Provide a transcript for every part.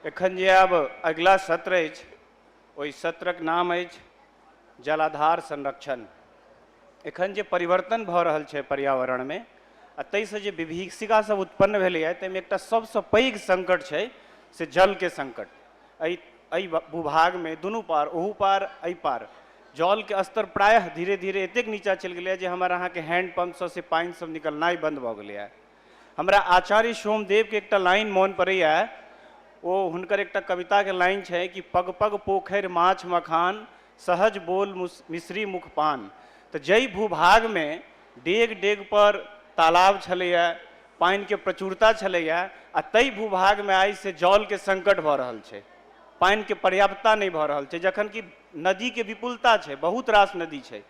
एखन जे आब अगिला सत्र अछि ओहि सत्रक नाम अछि जलाधार संरक्षण एखन जे परिवर्तन भऽ रहल छै पर्यावरणमे आ ताहिसँ जे विभीषिकासभ उत्पन्न भेलैए ताहिमे एकटा सभसँ पैघ सङ्कट छै से जलके सङ्कट एहि एहि भूभागमे दुनू पार ओहू पार एहि पार जलके स्तर प्रायः धीरे धीरे एतेक नीचाँ चलि गेलैए जे हमर अहाँके हैंड पम्पसँ से पानिसभ निकलनाइ बन्द भऽ गेलैए हमरा आचार्य सोमदेवके एकटा लाइन मोन पड़ैए ओ हुनकर एकटा कविताके लाइन छै कि पग पग पोखरि माछ मखान सहज बोल मिश्री मुखपान तऽ जाहि भूभागमे डेग-डेग पर तालाब छलैए, पानि के प्रचुरता छलैए आ तइ भूभाग मे आइ से जल के संकट भ रहल छै। पानि के पर्याप्तता नहि भ रहल छै जखन कि नदी के विपुलता छै, बहुत रास नदी छै।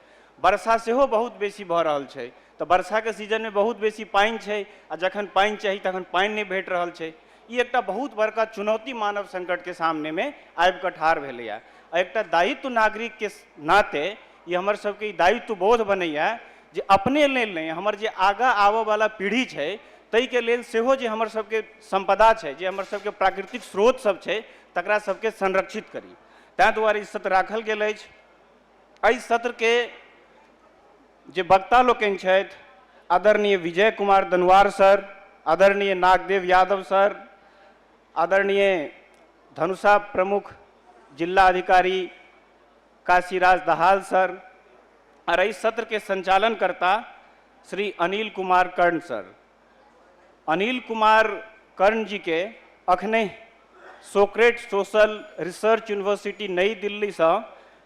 वर्षा सेहो बहुत बेसी भ रहल छै त वर्षा के सीजन मे बहुत बेसी पानि छै आ जखन पानि चाही तखन पानि नहि भेट रहल छै। ई एकटा बहुत बड़का चुनौती मानव संकट के सामने मे आबि क ठाढ़ भेलैए आ एकटा दायित्व नागरिक के नाते ई हमर सबके ई दायित्व बोध बनैए जे अपने लेल नहि हमर जे आगाँ आबऽवला पीढ़ी छै ताहिके लेल सेहो जे हमर सबके सम्पदा छै जे हमर सबके प्राकृतिक स्रोत सब छै तकरा सबके संरक्षित करी ताहि दुआरे ई सत्र राखल गेल अछि एहि सत्रके जे वक्ता लोकनि छथि आदरणीय विजय कुमार दनवार सर आदरणीय नागदेव यादव सर आदरणीय धनुषा प्रमुख जिल्ला अधिकारी काशीराज दहाल सर और इस सत्र के संचालन करता श्री अनिल कुमार कर्ण सर अनिल कुमार कर्ण जी के अखने सोक्रेट सोशल रिसर्च यूनिवर्सिटी नई दिल्ली से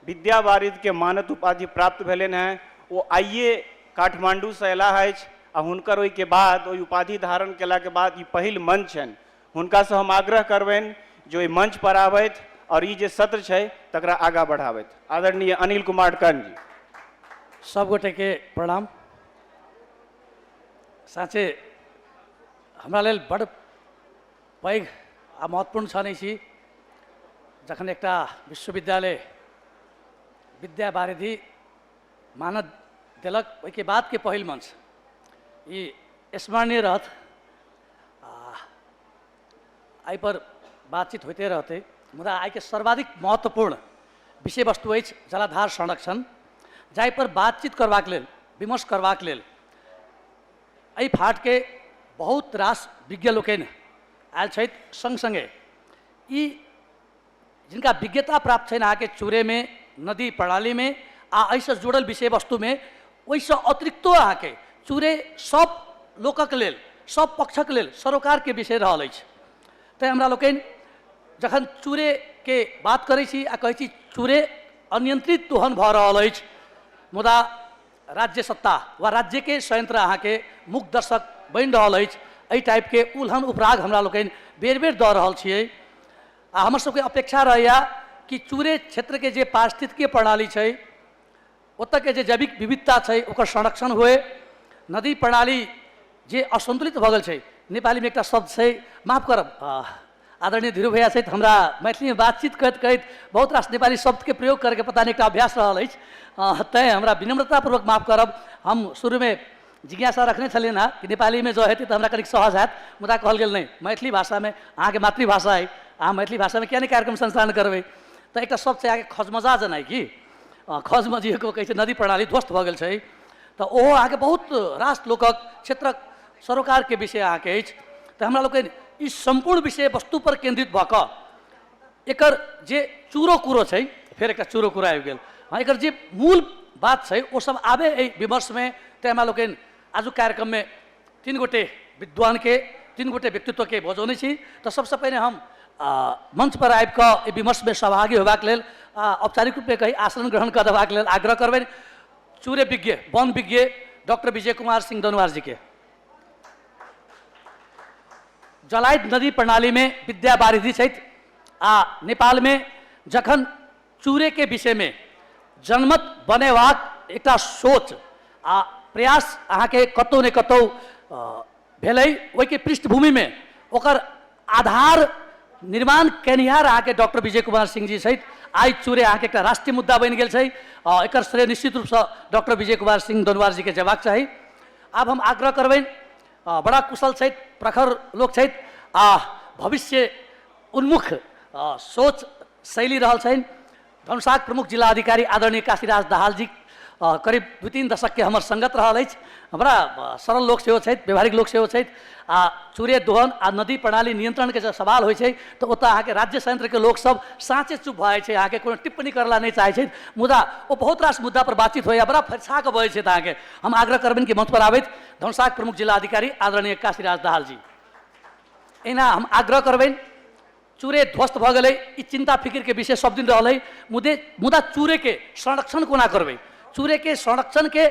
विद्या वारिद के मानद उपाधि प्राप्त भेलन हैं वो आइए काठमांडू से अला है आ हुनकर ओहि के बाद ओहि उपाधि धारण केला के बाद ई पहिल मंच छनि हुनकासँ हम आग्रह करबनि जे ओहि मंच पर आबथि आओर ई जे सत्र छै तकरा आगाँ बढ़ाबथि आदरणीय अनिल कुमार कर्ण जी सब गोटे के प्रणाम साँचे हमरा लेल बड़ पैघ आ महत्वपूर्ण क्षण अछि जखन एकटा विश्वविद्यालय विद्या वारिधि मानद देलक ओहिके बादके पहिल मंच ई स्मरणीय रहत एहि पर बातचीत होते रहते मुदा आई के सर्वाधिक महत्वपूर्ण विषय वस्तु अछि जलाधार संरक्षण जाहि पर बातचीत करबाक लेल विमर्श करबाक लेल एहि फाट के बहुत रास विज्ञ लोकनि आयल छथि संग संगे ई जिनका विज्ञता प्राप्त छनि अहाँके चूरेमे नदी प्रणालीमे आ एहिसँ जुड़ल विषय वस्तुमे ओहिसँ अतिरिक्तो अहाँके चूरे सभ लोकक लेल सभ पक्षक लेल सरोकारके विषय रहल अछि तैँ हमरा लोकनि जखन चूरेके बात करै छी आ कहै छी चूरे अनियंत्रित दोहन भऽ रहल अछि मुदा राज्य सत्ता वा राज्यके संयंत्र अहाँके मुख दर्शक बनि रहल अछि एहि टाइपके उल्हन उपराग हमरा लोकनि बेर बेर दऽ रहल छियै आ हमर सबके अपेक्षा रहैए कि चुरे क्षेत्रके जे पारिस्थितिकीय प्रणाली छै ओतऽके जे जैविक विविधता छै ओकर संरक्षण होइ नदी प्रणाली जे असन्तुलित भऽ गेल छै नेपालीमे एकटा शब्द छै माफ करब आदरणीय धीरू भैया सहित हमरा मैथिलीमे बातचीत करैत करैत बहुत रास नेपाली शब्दके प्रयोग करैके पता नहि एकटा अभ्यास रहल अछि तैँ हमरा विनम्रतापूर्वक माफ करब हम शुरूमे जिज्ञासा रखने छलियनि हँ कि नेपाली मे जँ हेतै त हमरा कनिक सहज हएत मुदा कहल गेल नहि मैथिली भाषा मे अहाँ के मातृभाषा अइ अहाँ मैथिली भाषा मे किया नहि कार्यक्रम संचालन करबै त एकटा सब चया के खजमजा जेनाइ कि खजमजिए को कहै छै नदी प्रणाली ध्वस्त भ गेल छै त ओहो अहाँ के बहुत रास लोकक क्षेत्रक सरोकार के विषय अहाँ के अछि त हमरा लोकनि ई सम्पूर्ण विषय वस्तु पर केन्द्रित भ क एकर जे चूरो कूरो छै फेर एकटा चूरो कूरो आबि गेल हँ एकर जे मूल बात छै ओ सब आबे एहि विमर्शमे तैँ हमरा लोकनि आजुक कार्यक्रममे तीन गोटे विद्वानके तीन गोटे व्यक्तित्वके बजौने छी तऽ सबसँ पहिने हम आ, मंच पर आबि कऽ एहि विमर्शमे सहभागी होयबाक लेल आ, औपचारिक रूपमे कही आसन ग्रहण कऽ देबाक लेल आग्रह करबनि चूरे विज्ञ वन विज्ञ डॉक्टर विजय कुमार सिंह दनुआर जीके जलाइत नदी प्रणालीमे विद्या बारिधि छथि आ नेपालमे जखन चूरेके विषयमे जनमत बनेबाक एकटा सोच आ प्रयास अहाँके कतहु ने कतहु भेलै ओहिके पृष्ठभूमिमे ओकर आधार निर्माण केनिहार अहाँके डॉक्टर विजय कुमार सिंह जी सहित आइ चूरे अहाँके एकटा राष्ट्रीय मुद्दा बनि गेल छै आ एकर श्रेय निश्चित रूपसँ डॉक्टर विजय कुमार सिंह दोनवार जीके जेबाक चाही आब हम आग्रह करबनि आ, बड़ा कुशल छथि प्रखर लोक छथि आ भविष्य उन्मुख आ, सोच शैली रहल छनि धनुषाक प्रमुख जिला अधिकारी आदरणीय काशीराज दाहाल जी करीब दू तीन दशकके हमर सङ्गत रहल अछि बड़ा सरल लोक सेहो छथि व्यवहारिक लोक सेहो छथि आ चूरे दोहन आ नदी प्रणाली नियन्त्रणके जब सवाल होइ छै तऽ ओतऽ अहाँके राज्य संयंत्रके लोकसभ साँचे चुप भऽ जाइ छै अहाँके कोनो टिप्पणी करला नहि चाहै छथि मुदा ओ बहुत रास मुद्दा पर बातचीत होइए बड़ा फरिछा कऽ बजै छथि अहाँके हम आग्रह करबनि कि मंच पर आबैत धनुषाक प्रमुख जिला अधिकारी आदरणीय काशीराज दाहाल जी एहिना हम आग्रह करबनि चूरे ध्वस्त भऽ गेलै ई चिन्ता फिकिरके विषय सब दिन रहल है मुदे मुदा चूरेके संरक्षण कोना करबै चूरेके संरक्षणके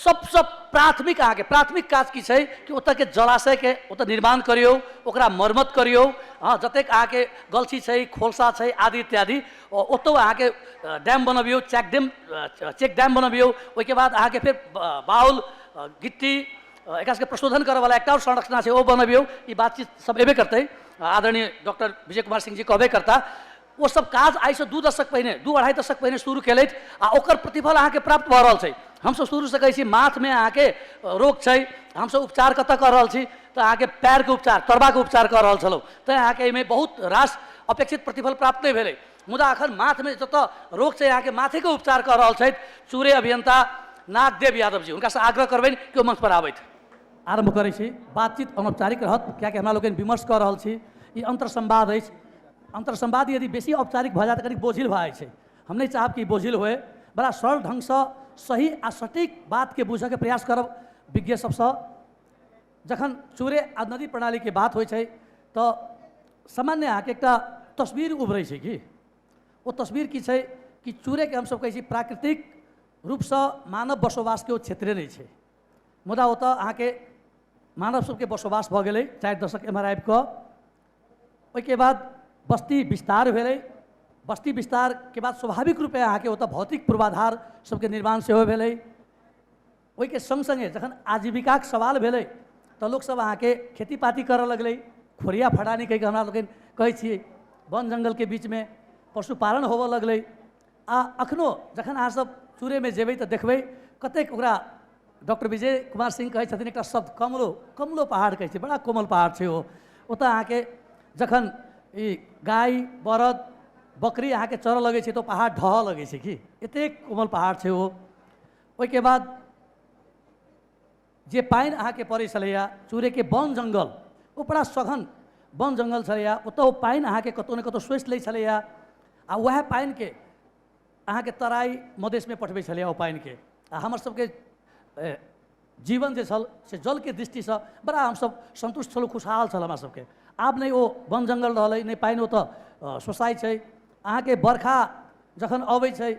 सबसँ प्राथमिक अहाँके प्राथमिक काज की छै कि ओतऽके जलाशयके ओतऽ निर्माण करियौ ओकरा मरम्मत करियौ हँ जतेक अहाँके गलछी छै खोलसा छै आदि इत्यादि ओ- ओतौ अहाँके अ, डैम बनबियौ चेक डैम अ, चेक डैम बनबियौ ओहिके बाद अहाँके फेर ब- बाउल अ, गिट्टी एकरा सबके प्रशोधन करऽ वाला एकटा और संरचना छै ओ बनबियौ ई बातचीत सब एबे करतै आदरणीय डॉक्टर विजय कुमार सिंह जी कहबे करता ओ सब काज आइ से दू दशक पहिने दू अढ़ाई दशक पहिने शुरू केलथि आ ओकर प्रतिफल अहाँके प्राप्त भऽ रहल छै हमसब शुरूसँ कहै छी माथमे अहाँके रोग छै हमसब उपचार कतऽ कऽ रहल छी तऽ अहाँके पैरके उपचार तरबाके उपचार कऽ रहल छलहुँ तैँ अहाँके एहिमे बहुत रास अपेक्षित प्रतिफल प्राप्त नहि भेलै मुदा अखन माथ मे जतऽ रोग छै अहाँके माथे के उपचार कऽ रहल छथि चूरे अभियंता नागदेव यादव जी हुनका से आग्रह करबनि कि ओ मंच पर आबथि आरंभ करै छी बातचीत अनौपचारिक रहत कियाकि हमरा लोकनि विमर्श कऽ रहल छी ई अंतर संवाद अछि अंतर संवाद यदि बेसी औपचारिक भऽ जाय तऽ कनि बोझिल भऽ जाइ छै हम नहि चाहब कि ई बोझिल होय बड़ा सरल ढंग सँ सही आ सटीक बात के बूझय के प्रयास करब विज्ञ सबसँ जखन चूरे आ नदी प्रणालीके बात होइ छै तऽ सामान्य अहाँके एकटा तस्वीर उभरै छै कि ओ तस्वीर की छै कि चूरेके हमसभ कहै छी प्राकृतिक रूपसँ मानव बसोबासके ओ क्षेत्रे नहि छै मुदा ओतऽ अहाँके मानव सभके बसोबास भऽ गेलै चारि दशक एम्हर आबि कऽ ओहिके बाद बस्ती विस्तार भेलै बस्ती विस्तारके बाद स्वाभाविक रूपे अहाँके ओतऽ भौतिक पूर्वाधार सभके निर्माण सेहो भेलै ओहिके संग संगे जखन आजीविकाक सवाल भेलै तऽ लोकसभ अहाँके खेती पाती करऽ लगलै खोरिया फटानी कहिके हमरा लोकनि कहै छियै वन जंगलके बीचमे पशुपालन होबऽ लगलै आ अखनो जखन अहाँसभ चूरेमे जेबै तऽ देखबै कतेक ओकरा डॉक्टर विजय कुमार सिंह कहै छथिन एकटा शब्द कमलो कमलो पहाड़ कहै छै बड़ा कोमल पहाड़ छै ओ ओतऽ अहाँके जखन ई गाय बरद बकरी अहाँके चरऽ लगै छै तऽ ओ पहाड़ ढहऽ लगै छै कि एतेक कोमल पहाड़ छै ओ ओहिके बाद जे पानि अहाँके पड़ै छलैए चूरेके वन जङ्गल ओ बड़ा सघन वन जङ्गल छलैए ओतऽ ओ पानि अहाँके कतहु ने कतहु सोचि लै छलैए आ उएह पानिके अहाँके तराइ मधेशमे पठबै छलैए ओ पानिके आ हमरसभके जीवन जे छल से जलके दृष्टिसँ बड़ा हमसभ सन्तुष्ट छलहुँ खुशहाल छल हमरासभके आब नहि ओ वन जङ्गल रहलै नहि पानि ओतऽ सोसाइ छै अहाँके बरखा जखन अबै छै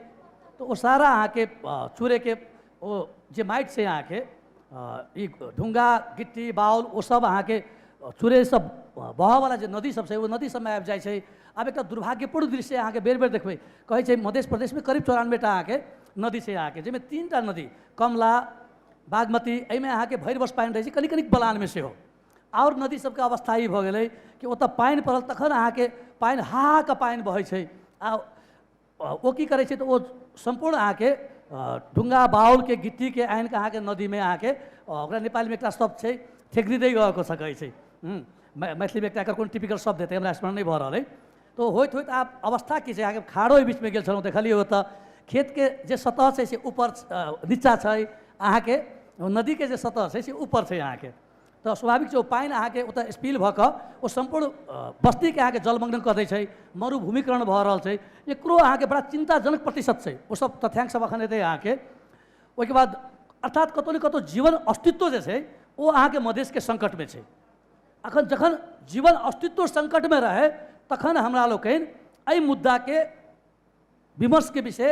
तऽ ओ सारा अहाँके अ, चूड़ेके ओ जे माटि छै अहाँके अ, ई ढुङ्गा गिट्टी बाउल ओ सब अहाँके अ, चूड़े सब अ, बहऽवला जे नदी सब छै ओ नदी सबमे आबि जाइ छै आब एकटा दुर्भाग्यपूर्ण दृश्य अहाँके बेर बेर देखबै कहै छै मध्य प्रदेशमे करीब चौरानवे टा अहाँके नदी छै अहाँके जाहिमे तीन टा नदी कमला बागमती एहिमे अहाँके भरि वर्ष पानि रहै छै कनि कनिक बलानमे सेहो आओर नदी सबके अवस्था ई भऽ गेलै कि ओतऽ पानि पड़ल तखन अहाँके पानि हा हा कऽ पानि बहै छै आ ओ की करै छै तऽ ओ सम्पूर्ण अहाँके ढुङ्गा बाउलके गिट्टीके आनि कऽ अहाँके नदीमे अहाँके ओकरा नेपालमे एकटा शब्द छै ठेकरी दै कऽ सकै छै मैथिलीमे एकटा एकर कोन टिपिकल शब्द हेतै हमरा स्मरण नहि भऽ रहल अइ तऽ होइत होइत आब अवस्था की छै अहाँके खाड़ो एहि बीचमे गेल छलहुँ देखलियै ओतऽ खेतके जे सतह छै से ऊपर नीचाँ छै अहाँके नदीके जे सतह छै से ऊपर छै अहाँके तऽ स्वाभाविक छै ओ पानि अहाँके ओतऽ स्पिल भऽ कऽ ओ सम्पूर्ण बस्तीके अहाँके जलमग्न कऽ दै छै मरुभूमिकरण भऽ रहल छै एकरो अहाँके बड़ा चिन्ताजनक प्रतिशत छै ओ सब तथ्यांक सब अखन एतै अहाँके ओहिके बाद अर्थात कतौ ने कतौ जीवन अस्तित्व जे छै ओ अहाँके मधेशके सङ्कटमे छै अखन जखन जीवन अस्तित्व सङ्कटमे रहै तखन हमरा लोकनि एहि मुद्दाके विमर्श के विषय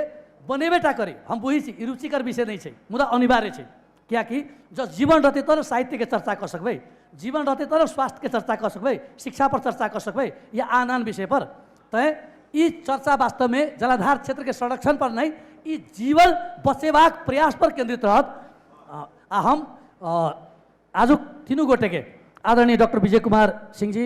बनेबेटा करे हम बुझै छी ई रुचिकर विषय नहि छै मुदा अनिवार्य छै किएकि जँ जीवन रहतै तब ने साहित्यके चर्चा कऽ सकबै जीवन रहतै तब ने स्वास्थ्यके चर्चा कऽ सकबै शिक्षापर चर्चा कऽ सकबै या आन आन विषयपर तैँ ई चर्चा वास्तवमे जलाधार क्षेत्रके संरक्षणपर नहि ई जीवन बचेबाक प्रयासपर केन्द्रित रहत आ हम आजुक तीनू गोटेके आदरणीय डॉक्टर विजय कुमार सिंह जी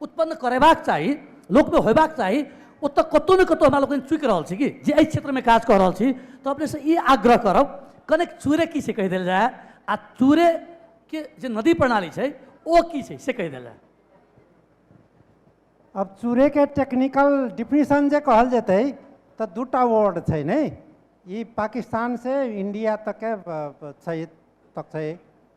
उत्पन्न करेबाक चाही लोकमे होयबाक चाही ओतऽ कतहु ने कतहु हमरा लोकनि चूकि रहल छी कि जे एहि क्षेत्रमे काज कऽ रहल छी तऽ अपनेसँ ई आग्रह करब कनेक चूरे की छै कहि देल जाय आ चूरेके जे नदी प्रणाली छै ओ की छै से कहि देल जाय अब चूरेके टेक्निकल डिफिनेशन जे कहल जेतै तऽ दूटा वर्ड छै ने ई पाकिस्तानसँ इन्डिया तकके अ, छै तक छै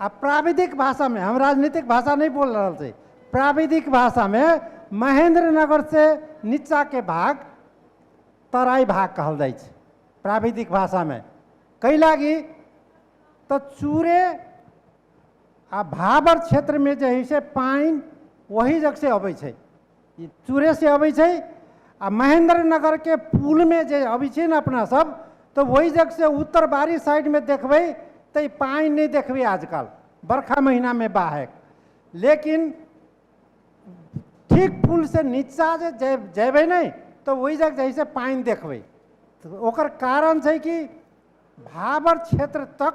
आ प्राविधिक भाषामे हम राजनीतिक भाषा नहीं बोल रहल छी प्राविधिक भाषामे महेंद्र नगर से नीचा के भाग तराई भाग कहल जाइ छै प्राविधिक भाषामे कै लागी तऽ चूरे आ भाबर क्षेत्रमे जे है से पानि ओही जग से अबै छै ई चूरे से अबै छै आ महेंद्र नगर के पुल में जे अबै छै ने अपना सब तऽ ओहि जग से उत्तर बारी साइड में देखबै तऽ ई पानि नहि देखबै आजकल बरखा महीना में बाहक लेकिन ठीक पुल से नीचा जे जय- जेबै ने तऽ ओहि जग जैसे पानि देखबै तऽ ओकर कारण छै कि भाबर क्षेत्र तक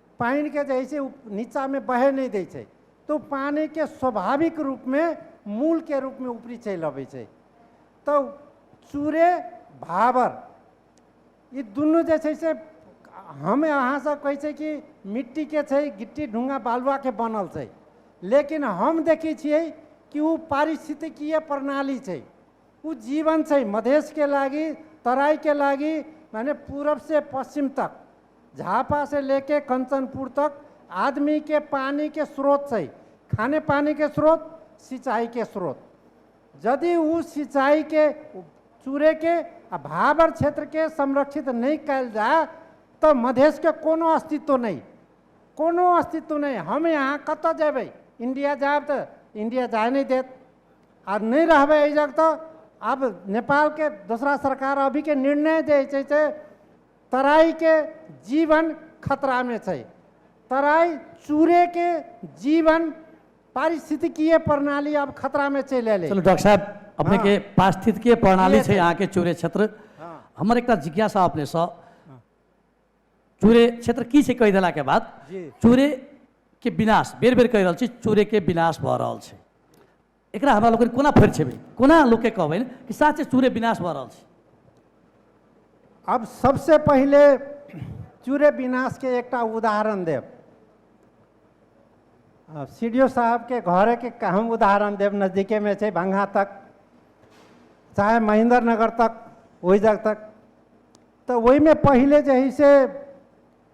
पानिके जे हइ से नीचाँमे बहय नहि दै छै तऽ ओ पानिके स्वाभाविक रूपमे मूलके रूपमे ऊपरी चलि अबै छै तऽ चूरे भावर ई दुनू जे छै से हम अहाँसभ कहै छै कि मिट्टीके छै गिट्टी ढुङ्गा बालुआके बनल छै लेकिन हम देखै छियै कि ओ पारिस्थितिकीय प्रणाली छै ओ जीवन छै मधेशके लागि तराइके लागि मने पूरबसँ पश्चिम तक झापा से लेके कंचनपुर तक आदमी के पानी के स्रोत छै खाने पानी के स्रोत सिंचाई के स्रोत यदि उ सिंचाई के चूरे के आ भाबर क्षेत्र के संरक्षित नहीं कल जाए तो मधेश के कोनो अस्तित्व नहीं कोनो अस्तित्व नहीं हम यहाँ कत जेबै इंडिया जाब तो इंडिया जाए नहीं देत आ नहीं रहबै एहि जग तो अब नेपाल के दूसरा सरकार अभी के निर्णय जे छै से तराई के जीवन खतरा में छै तराई चूरे के जीवन पारिस्थितिकीय प्रणाली अब खतरा में चलि एलै चलू डॉक्टर साहब अपने के पारिस्थितिकीय प्रणाली ये छै छै। अहाँ के चूरे क्षेत्र हाँ। हमर एकटा जिज्ञासा अपने सँ चूरे क्षेत्र की छै कहि देला के बाद जी। चूरे के विनाश बेर बेर कहि रहल छी चूरे के विनाश भऽ रहल छै एकरा हमरा लोकनि कोना फरिछेबै कोना लोककेँ कहबनि कि साचे चूरे विनाश भऽ रहल छै आब सभसँ पहिले चूरे विनाशके एकटा उदाहरण देब आब सी डी ओ साहबके घरेके क- हम उदाहरण देब नजदीकेमे छै भंगा तक चाहे महेंद्र नगर तक ओहि जग तक तऽ ओहिमे पहिले जे हइ से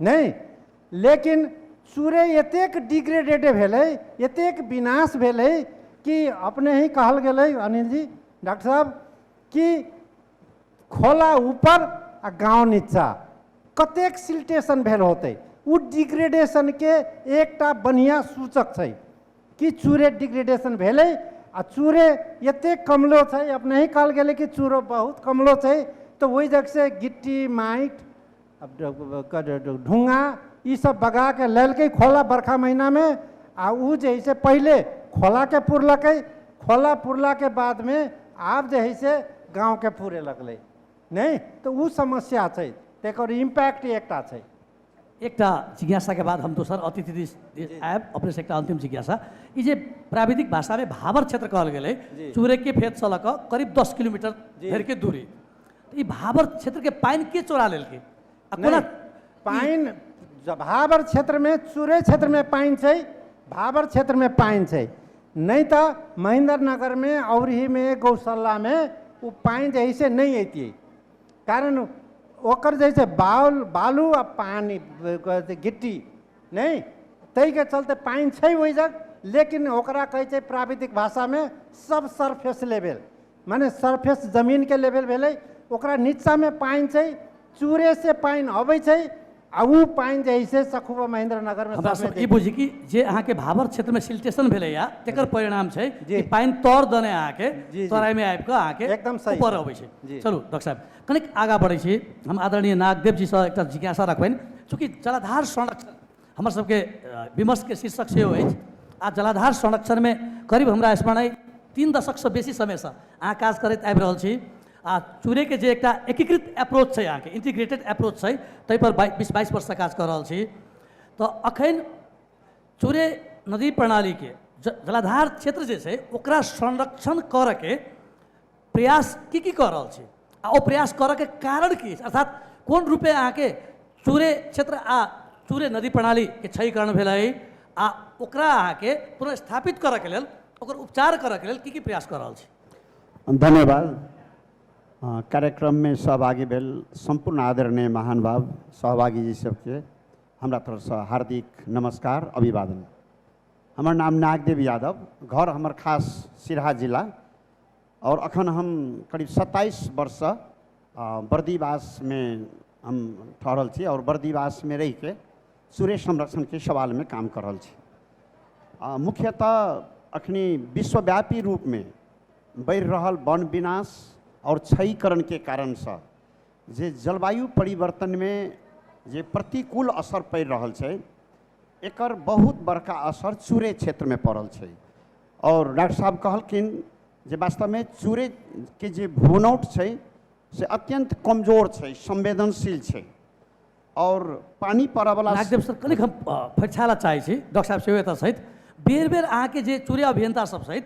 नहि लेकिन सूर्य एतेक डिग्रेडेड भेलै एतेक विनाश भेलै कि अपने ही कहल गेलै अनिल जी डॉक्टर साहब कि खोला ऊपर आ गाँव नीचा कतेक सिल्टेशन भेल होतै ओ डिग्रेडेशनके एकटा बढ़िआँ सूचक छै कि चूरे डिग्रेडेशन भेलै आ चूरे एतेक कमलो छै अपने ही कहल गेलै कि चूरो बहुत कमलो छै तऽ ओहि जगहसँ गिट्टी माटि ढुङ्गा ई सब बगा के लेलकै खोला बरखा महीना में आ उ जे है से पहले खोला के पुरलक खोला पुरला के बाद में आब जे है से गाँव के पूरे लगलै नहीं तो उ समस्या छै तेकर इम्पैक्ट एकटा छै एकटा जिज्ञासा के बाद हम दोसर अतिथि दिस आयब अपने से एकटा अंतिम जिज्ञासा ई जे प्राविधिक भाषा में भावर क्षेत्र कहल गेलै जी। चूरे के फेत से लऽ कऽ करीब दस किलोमीटर जी। धरि के दूरी ई भाबर क्षेत्रके पानि के चोरा लेलकै आ कोना नहि, पानि ज- भाबर क्षेत्रमे चुरे क्षेत्रमे पानि छै भाबर क्षेत्रमे पानि छै नहि तऽ महेन्द्र नगरमे औरहीमे गौशालामे ओ पानि जे है से नहि अइतियै कारण ओकर जे छै बाउल बालू आ पानि ब- ग- गिट्टी नहि ताहिके चलते पानि छै ओहि जग लेकिन ओकरा कहै छै प्राविधिक भाषामे सब सरफेस लेवल माने सरफेस जमिनके लेभल भेलै ओकरा निचामे पानि छै चूरेसँ पानि अबै छै आ ओ पानि जे है से सखुबा महेंद्र नगरमे हमरा सबमे सब ई दै छै। बुझी कि जे अहाँके भावर क्षेत्रमे सिल्टेशन भेलैया तेकर परिणाम छै जी। कि पानि तर दने अहाँके जी, जी। तराइमे आबि कऽ अहाँके एकदम सही। ऊपर अबै छै जी। चलू डॉक्टर साहब कनिक आगाँ बढ़ै छी हम आदरणीय नागदेव जीसँ एकटा जिज्ञासा रखबनि चूँकि जलाधार संरक्षण हमर सबके अ, विमर्श के शीर्षक सेहो अछि आ जलाधार संरक्षण में करीब हमरा स्मरण अइ तीन दशक से बेसी समय से अहाँ काज करैत आबि रहल छी आ चूरे के जे एकटा एकीकृत अप्रोच छै अहाँके इंटीग्रेटेड अप्रोच छै ताहि पर बाइ- बीस बाईस वर्ष से काज कऽ रहल छी तऽ अखन चूरे नदी प्रणाली के ज- जलाधार क्षेत्र जे छै ओकरा संरक्षण करऽ के प्रयास की की कऽ रहल छी आ ओ प्रयास करऽके कारण की अछि अर्थात कोन रूपे अहाँके चूरे क्षेत्र आ चूरे नदी प्रणालीके क्षयीकरण भेल अइ आ ओकरा अहाँके पुनर्स्थापित करऽके लेल ओकर उपचार करऽके लेल की की प्रयास कऽ रहल छी धन्यवाद अँ, कार्यक्रममे सहभागी भेल सम्पूर्ण आदरणीय महानुभाव सहभागीजी सबके हमरा तरफसँ हार्दिक नमस्कार अभिवादन हमर नाम नागदेव यादव घर हमर खास सिरहा जिला आओर अखन हम करीब सत्ताइस वर्षसँ बर्दीवासमे हम ठहरल छी आओर बर्दीवासमे रहिके सुरेश संरक्षणके सवालमे काम कर रहल छी आ मुख्यतः अखनी विश्वव्यापी रूपमे बढ़ि रहल वन विनाश आओर क्षयीकरणके कारणसँ जे जलवायु परिवर्तनमे जे प्रतिकूल असर पड़ि रहल छै एकर बहुत बड़का असर चूरे क्षेत्रमे पड़ल छै आओर डॉक्टर साहब कहलखिन जे वास्तवमे चूरेके जे भूनौट छै से अत्यन्त कमजोर छै संवेदनशील छै आओर पानि पड़ऽवला राजदेव सर कनिक हम अ, फैक्सा लए चाहै छी डॉक्टर साहब सेहो एतऽ छथि बेर बेर अहाँके जे चूर्य अभियंता सब छथि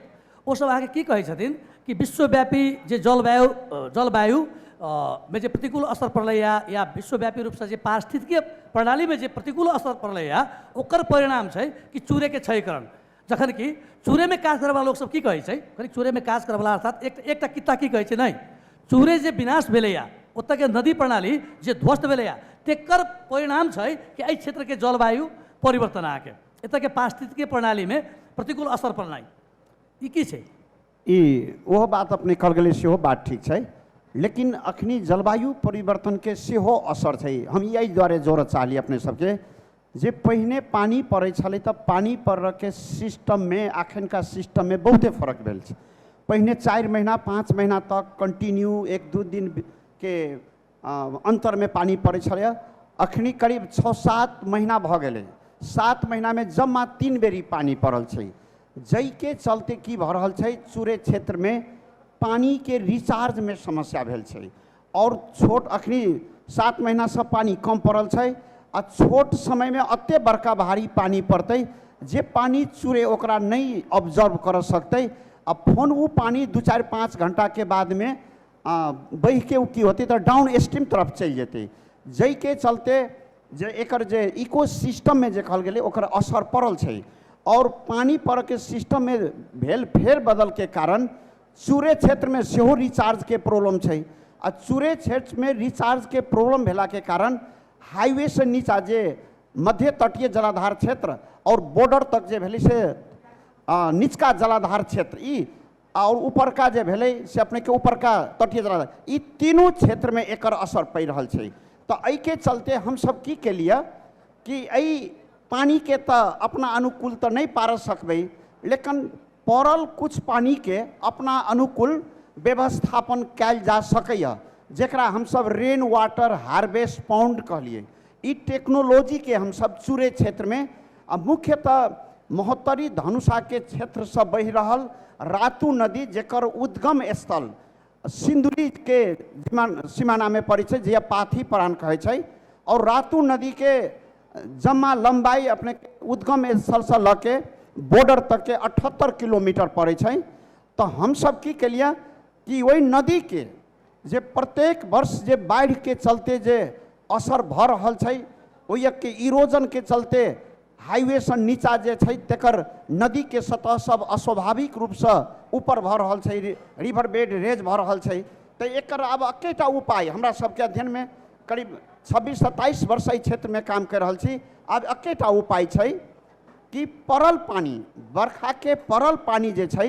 ओ सब अहाँके की कहै छथिन कि विश्वव्यापी जे जलवायु अ, जलवायु अ, मे जे प्रतिकूल असर पड़लैए या विश्वव्यापी रूपसँ जे पारिस्थितिकीय प्रणालीमे जे प्रतिकूल असर पड़लैए ओकर परिणाम छै कि चूर्यके क्षयकरण जखन कि चूरेमे काज करयवला लोकसभ की कहै छै कनि चूरेमे काज करयवला अर्थात एक एकटा कित्ता की कहै छै नहि चूरे जे विनाश भेलैए ओतयके नदी प्रणाली जे ध्वस्त भेलैए तेकर परिणाम छै कि एहि क्षेत्रके जलवायु परिवर्तन अहाँके एतयके पारिस्थितिकीय प्रणालीमे प्रतिकूल असर पड़नाइ ई की छै ई ओहो बात अपने कहल गेलै सेहो बात ठीक छै लेकिन अखनी जलवायु परिवर्तनके सेहो असर छै हम ई एहि दुआरे जोड़ऽ चाहली अपने सबके जे पहिने पानि पड़ै छलै तऽ पानि पड़ऽके सिस्टममे अखनका सिस्टममे बहुते फर्क भेल छै पहिने चारि महीना पाँच महीना तक कन्टिन्यू एक दू दिनके अन्तरमे पानि पड़ै छलै अखन करीब छओ सात महीना भऽ गेलै सात महीनामे जम्मा तीन बेरी पानि पड़ल छै जाहिके चलते की भऽ रहल छै चूरे क्षेत्रमे पानिके रिचार्जमे समस्या भेल छै आओर छोट अखनी सात महीनासँ पानि कम पड़ल छै आ छोट समयमे एते बड़का भारी पानि पड़तै जे पानि चूरे ओकरा नहि ऑब्जर्व करऽ सकतै आ फोन ओ पानि दू चारि पाँच घंटाके बादमे बहिके ओ की होतै तऽ डाउन स्ट्रीम तरफ चलि जेतै जाहिके चलते जे एकर जे इको सिस्टममे जे कहल गेलै ओकर असर पड़ल छै आओर पानि पड़ैके सिस्टममे भेल फेर बदलके कारण चूरे क्षेत्रमे सेहो रिचार्जके प्रॉब्लम छै आ चूरे क्षेत्रमे रिचार्जके प्रॉब्लम भेलाके कारण हाइवेसँ नीचा जे मध्य तटीय जलाधार क्षेत्र आओर बॉर्डर तक जे भेलै से निचका जलाधार क्षेत्र ई आओर उपरका जे भेलै से अपनेके उपरका तटीय जला ई तीनू क्षेत्रमे एकर असर पड़ि रहल छै तऽ एहिके चलते हमसभ की केलिए कि एहि पानिके तऽ अपना अनुकूल तऽ नहि पारऽ सकबै लेकिन पड़ल किछु पानिके अपना अनुकूल व्यवस्थापन कयल जा सकैए जकरा हमसभ रेन वाटर हार्वेस्ट पाउंड कहलिए ई टेक्नोलॉजीके हमसभ चूरे क्षेत्रमे आ मुख्यतः महोत्तरी धनुषाके क्षेत्रसँ बहि रहल रातू नदी जेकर उद्गम स्थल सिंदुलीके सिमानामे पड़ै छै जे पाथी प्राण कहै छै आओर रातू नदीके जम्मा लम्बाइ अपने उद्गम स्थलसँ लऽ के बॉर्डर तकके अठहत्तर किलोमीटर पड़ै छै तऽ हमसभ की केलियै कि ओहि नदीके जे प्रत्येक वर्ष जे बाढ़ि के चलते जे असर भऽ रहल छै ओहिके इरोजन के चलते हाईवे से नीचा जे छै तेकर नदी के सतह सब अस्वाभाविक रूप से ऊपर भऽ रहल छै रिवर बेड रेज भऽ रहल छै तऽ एकर आब एकेटा उपाय हमरा सबके अध्ययन में करीब छब्बीस सत्ताईस वर्ष एहि क्षेत्र में काम कर रहल छी आब एकेटा उपाय छै कि पड़ल पानी बरखा के पड़ल पानी जे छै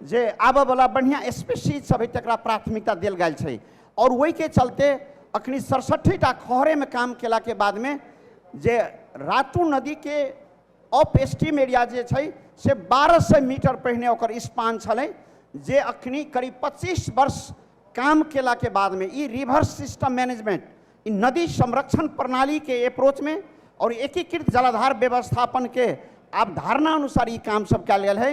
जे आबयवला बढ़िआँ स्पेशीज सब हइ तकरा प्राथमिकता देल गेल छै आओर ओहिके चलते अखनी सड़सठि टा खहरेमे काम केलाके बादमे जे रातू नदीके ऑफ स्टीम एरिया जे छै से बारह सए मीटर पहिने ओकर स्पान छलै जे अखनी करीब पच्चीस वर्ष काम केलाके बादमे ई रिभर सिस्टम मैनेजमेंट ई नदी संरक्षण प्रणालीके अप्रोचमे आओर एकीकृत जलाधार व्यवस्थापनके अवधारणा अनुसार ई काम सब कयल गेल है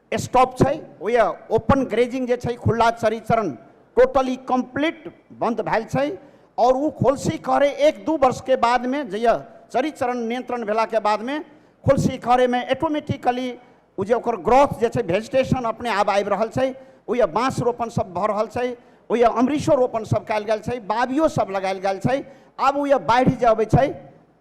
स्टॉप छै ओहि ओपन ग्रेजिंग जे छै खुला चरी चरण टोटली कंप्लीट बंद भेल छै और ओ खोलसी कहरे एक दू वर्ष के बाद में जहिया चरी चरण नियंत्रण भेला के बाद में खोलसी कहरे में ऑटोमेटिकली ओ जे ओकर ग्रोथ जे छै वेजिटेशन अपने आप आबि रहल छै ओहि बाँस रोपण सब भऽ रहल छै ओहि अमरीशो रोपण सब कयल गेल छै बाबियो सब लगायल गेल छै आब ओहि बाढ़ि जे अबै छै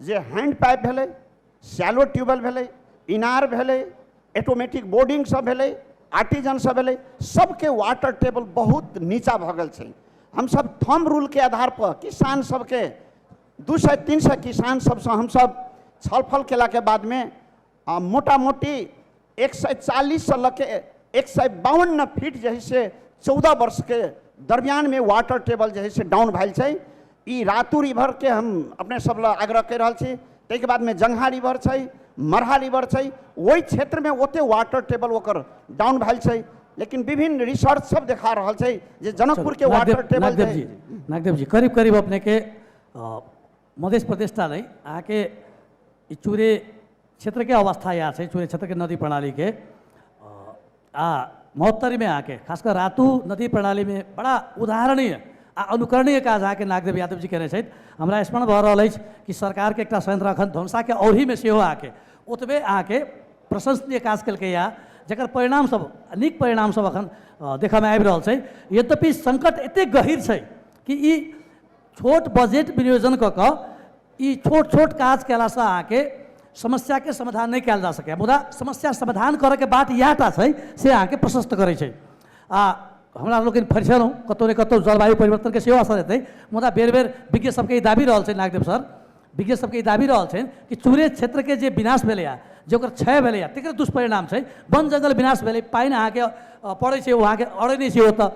जे हैंड पाइप भेलै सैलो ट्यूबवेल भेलै इनार भेलै ऑटोमेटिक बोर्डिंग सब भेलै आर्टिजन सब भेलै सबके वाटर टेबल बहुत नीचा भऽ गेल छै हमसब थम रूल के आधार पर किसान सबके दू सए तीन सए किसान सबसँ हमसब छलफल केलाके बादमे आ मोटा मोटी एक सए चालीससँ लऽ के एक सए बावन फीट जे है से चौदह वर्षके दरमियानमे वाटर टेबल जे है से डाउन भेल छै ई रातू रिभरके हम अपने सब लए आग्रह कहि रहल छी ताहिके बादमे जंगहा रिभर छै मरहा रिभर छै ओहि क्षेत्रमे ओते वाटर टेबल ओकर डाउन भेल छै लेकिन विभिन्न रिसर्च सब देखा रहल छै जे जनकपुरके वाटर टेबल नागदेव जी करीब करीब अपनेके मधेश प्रदेश टा नहि अहाँके ई चूरे क्षेत्रके अवस्था इएह छै चूरे क्षेत्रके नदी प्रणालीके आ महोत्तरीमे अहाँके खास कऽ रातु नदी प्रणालीमे बड़ा उदाहरणीय आ अनुकरणीय काज अहाँके नागदेव यादव जी कयने छथि हमरा स्मरण भऽ रहल अछि कि सरकारके एकटा संयंत्र अखन धनुषाके औढ़ीमे सेहो अहाँके ओतबे अहाँके प्रशंसनीय काज केलकैए जकर परिणामसभ नीक परिणामसभ अखन देखयमे आबि रहल छै यद्यपि संकट एतेक गहीर छै कि ई छोट बजेट विनियोजन कऽ कऽ ई छोट छोट काज कयलासँ अहाँके समस्याके समाधान नहि कयल जा सकैए मुदा समस्या समाधान करयके बात इएह टा छै से अहाँके प्रशस्त करै छै आ हमरा लोकनि फरिछलहुँ कतहु ने कतहु जलवायु परिवर्तनके सेहो असर हेतै मुदा बेर बेर विज्ञ सभके ई दाबि रहल छै नागदेव सर विज्ञ सभके ई दाबि रहल छनि कि चूरे क्षेत्रके जे विनाश भेलैए जे ओकर क्षय भेलैए तकर दुष्परिणाम छै वन जङ्गल विनाश भेलै पानि अहाँके अ, पड़ै छै ओ अहाँके अड़ै नहि छै ओतऽ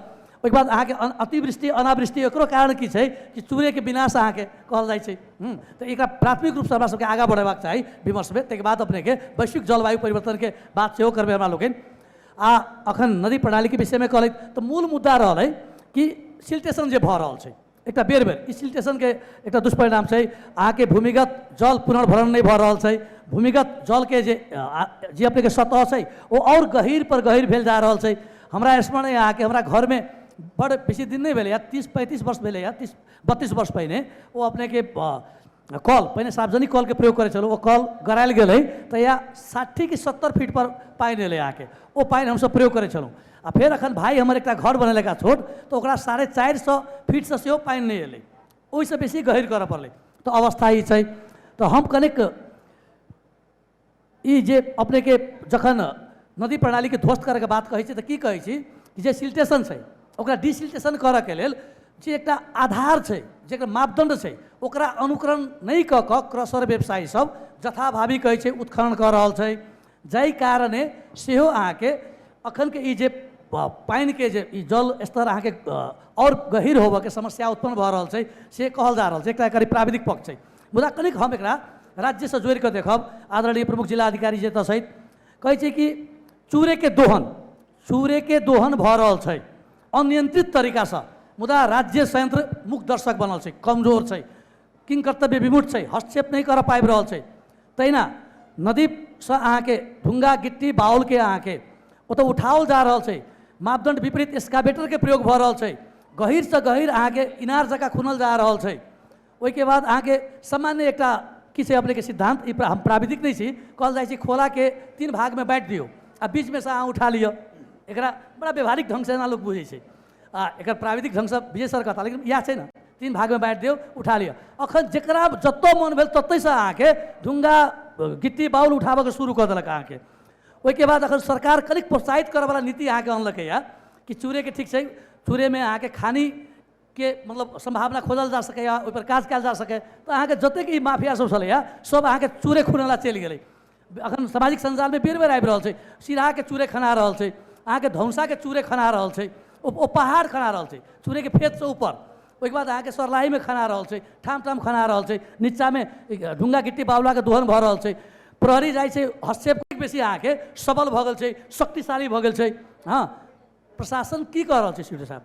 ओहिके बाद अहाँके अन- अतिवृष्टि अनावृष्टि एकरो कारण की छै कि सूर्यके विनाश अहाँके कहल जाइ छै हम्म, तऽ एकरा प्राथमिक रूपसँ हमरा सबके आगाँ बढ़ेबाक चाही विमर्शमे ताहिके बाद अपनेके वैश्विक जलवायु परिवर्तनके बात सेहो करबै हमरा लोकनि आ अखन नदी प्रणालीके विषयमे कहलथि तऽ मूल मुद्दा रहलै कि सिल्टेशन जे भऽ रहल छै एकटा बेर बेर इसिल्टेशनके एकटा दुष्परिणाम छै अहाँके भूमिगत जल पुनर्भरण नहि भऽ रहल छै भूमिगत जलके जे जे अपनेके सतह छै ओ आओर गहीर पर गहीर भेल जा रहल छै हमरा स्मरण यऽ अहाँके हमरा घरमे बड़ बेसी दिन नहि भेलैए तीस पैंतीस वर्ष भेलैए तीस बत्तीस वर्ष पहिने ओ अपनेके आ कल पहिने सार्वजनिक कलके प्रयोग करै छलहुँ ओ कल गड़ायल गेलै तऽ या साठि कि सत्तर फीटपर पानि एलै अहाँके ओ पानि हमसभ प्रयोग करै छलहुँ आ फेर एखन भाय हमर एकटा घर बनेलका छोट तऽ ओकरा साढ़े चारि सए फीटसँ सेहो पानि नहि एलै ओहिसँ बेसी गहीर करय पड़लै तऽ अवस्था ई छै तऽ हम कनिक ई जे अपने के जखन नदी प्रणाली के ध्वस्त करे के बात कहै छी तऽ की कहै छी कि जे सिल्टेशन छै ओकरा डिसिल्टेशन करऽ के लेल जे एकटा आधार छै जेकर मापदंड छै ओकरा अनुकरण नहि कऽ कऽ क्रशर व्यवसायी सब जथाभावी कहै छै उत्खनन कऽ रहल छै जाहि कारणे सेहो अहाँके अखन के ई जे प- पानि के जे ई जल स्तर अहाँके अ, आओर गहिर होबऽ के समस्या उत्पन्न भऽ रहल छै से कहल जा रहल छै एकटा एकर ई प्राविधिक पक्ष छै मुदा कनिक हम एकरा राज्यसँ जोड़ि कऽ देखब आदरणीय प्रमुख जिला अधिकारी जी एतऽ सहित कहै छै कि चूरेके दोहन चूरेके दोहन भऽ रहल छै अनियंत्रित तरीकासँ मुदा राज्य संयंत्र मुख दर्शक बनल छै कमजोर छै किन कर्तव्य विमुट छै हस्तक्षेप नहि करऽ पाबि रहल छै तहिना नदीसँ अहाँके ढुङ्गा गिट्टी बाउलके अहाँके ओतऽ उठाओल जा रहल छै मापदण्ड विपरीत एक्सकावेटरके प्रयोग भऽ रहल छै गहिरसँ गहिर अहाँके इनार जकाँ खुनल जा रहल छै ओहिके बाद अहाँके सामान्य एकटा की छै अपनेके सिद्धान्त ई हम प्राविधिक नहि छी कहल जाइ छै खोलाके तीन भागमे बाँटि दियौ आ बीचमे से अहाँ उठा लिअ एकरा बड़ा व्यवहारिक ढङ्गसँ एना लोक बुझै छै आ एकर प्राविधिक ढङ्गसँ विजय सर कहता लेकिन इएह छै ने तीन भागमे बाँटि दियौ उठा लिअ अखन जकरा जतऽ मोन भेल ततैसँ अहाँके ढुङ्गा गिट्टी बाउल उठाबऽके शुरू कऽ देलक अहाँके ओहिके बाद अखन सरकार कनिक प्रोत्साहित करऽवला नीति अहाँके अनलकैए कि चूड़ेके ठीक छै चूड़ेमे अहाँके खानी के मतलब सम्भावना खोजल जा सकैए ओहिपर काज कयल जा सकै तऽ अहाँके जतेक ई माफिया सब छलैए सब अहाँके चूरे खुने ला चलि गेलै अखन सामाजिक सञ्जालमे बेर बेर आबि रहल छै सिराहाके चूरे खना रहल छै अहाँके धौसाके चूरे खना रहल छै ओ ओ पहाड़ खना रहल छै चूरेके फेतसँ ऊपर ओहिके बाद अहाँके सरलाहीमे खना रहल छै ठाम ठाम खना रहल छै नीचाँमे ढुङ्गा गिट्टी बावलाके दोहन भऽ रहल छै प्रहरी जाइ छै हस्तक्षेप बेसी अहाँके सबल भऽ गेल छै शक्तिशाली भऽ गेल छै हँ प्रशासन की कऽ रहल छै सिडो साहब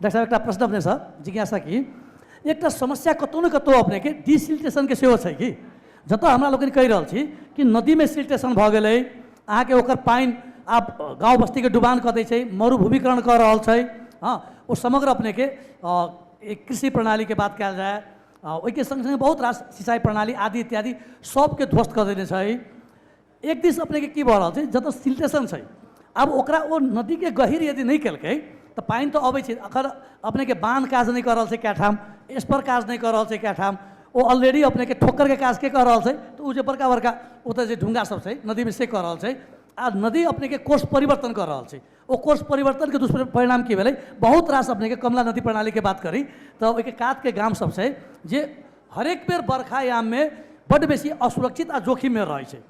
डॉक्टर साहब एकटा प्रश्न अपने सर जिज्ञासा की एकटा समस्या कतौ ने कतौ अपने के डिसिल्टेशन के सेहो छै कि जतऽ हमरा लोकनि कहि रहल छी कि नदी में सिल्टेशन भऽ गेलै अहाँके ओकर पानि आब गाँव बस्ती के डुबान कऽ दै छै मरुभूमिकरण कऽ रहल छै हँ ओ समग्र अपने के कृषि प्रणाली के बात कयल जाय ओहिके संग संग बहुत रास सिंचाई प्रणाली आदि इत्यादि सबके ध्वस्त कऽ देने छै एक दिस अपनेके की भऽ रहल छै जतऽ सिल्टेशन छै आब ओकरा ओ नदीके गहीर यदि नहि केलकै तऽ पानि तऽ अबै छै अखन अपनेके बान्ह काज नहि कऽ रहल छै कए ठाम स्पर काज नहि कऽ रहल छै कए ठाम ओ ऑलरेडी अपनेके ठोकरके काज के कऽ रहल छै तऽ ओ जे बड़का बड़का ओतऽ जे ढुङ्गा सब छै नदीमे से कऽ रहल छै आ नदी अपनेके कोर्स परिवर्तन कऽ रहल छै ओ कोर्स परिवर्तन के दुष्परिणाम की भेलै बहुत रास अपने के कमला नदी प्रणाली के बात करी तऽ ओहिके कात के गाम सब छै जे हरेक बेर बरखा याम में बड बेसी असुरक्षित आ जोखिम में रहै छै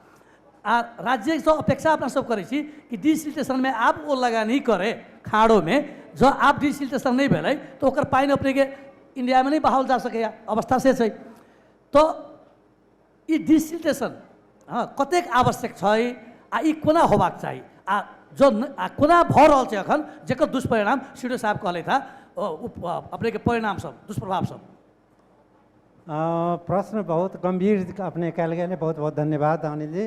आ राज्य से अपेक्षा अपना सब करै छी कि डिसिल्टेशन में आब ओ लगानी करे खाड़ो में जँ आब डिसिल्टेशन नहीं भेलै तऽ ओकर पानि अपने के इंडिया में नहीं बहाओल जा सकैया अवस्था से छै तऽ ई डिसिल्टेशन हँ कतेक आवश्यक छै आ ई कोना होबाक चाही आ जो न- आ कोना भऽ रहल छै एखन जेकर दुष्परिणाम सीडो साहब कहलथि हँ ओ, उप- अ, अपनेके परिणाम सब दुष्प्रभाव सब अ, प्रश्न बहुत गंभीर अपने कल गए बहुत बहुत धन्यवाद अनिल जी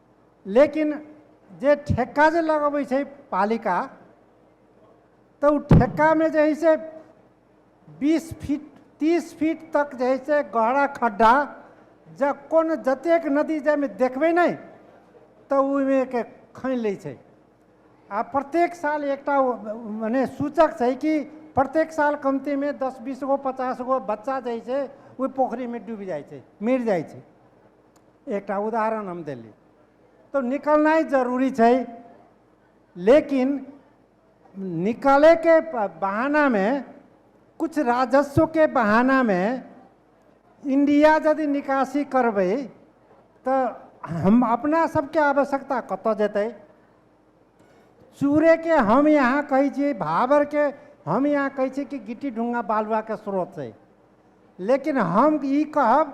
लेकिन जे ठेक्का जे लगबै छै पालिका तऽ ओ ठेक्कामे जे हइ से बीस फीट तीस फीट तक जे हइ से गहरा खड्डा जँ कोनो जतेक नदी जाहिमे देखबै नहि तऽ ओहिमेके खनि लै छै आ प्रत्येक साल एकटा ओ- मने सूचक छै कि प्रत्येक साल कमतीमे दस बीस गो पचास गो बच्चा जे हइ से ओहि पोखरिमे डूबि जाइ छै मरि जाइ छै एकटा उदाहरण हम देली तो निकलनाइ जरूरी छै लेकिन निकले के प- बहाना में कुछ राजस्व के बहाना में इंडिया यदि निकासी करबै तो हम अपना सबके आवश्यकता कतऽ जेतै चूरे के हम यहाँ कहै छियै भाबर के हम यहाँ कहै छियै कि गिट्टी ढुंगा बालुआ के स्रोत छै लेकिन हम ई कहब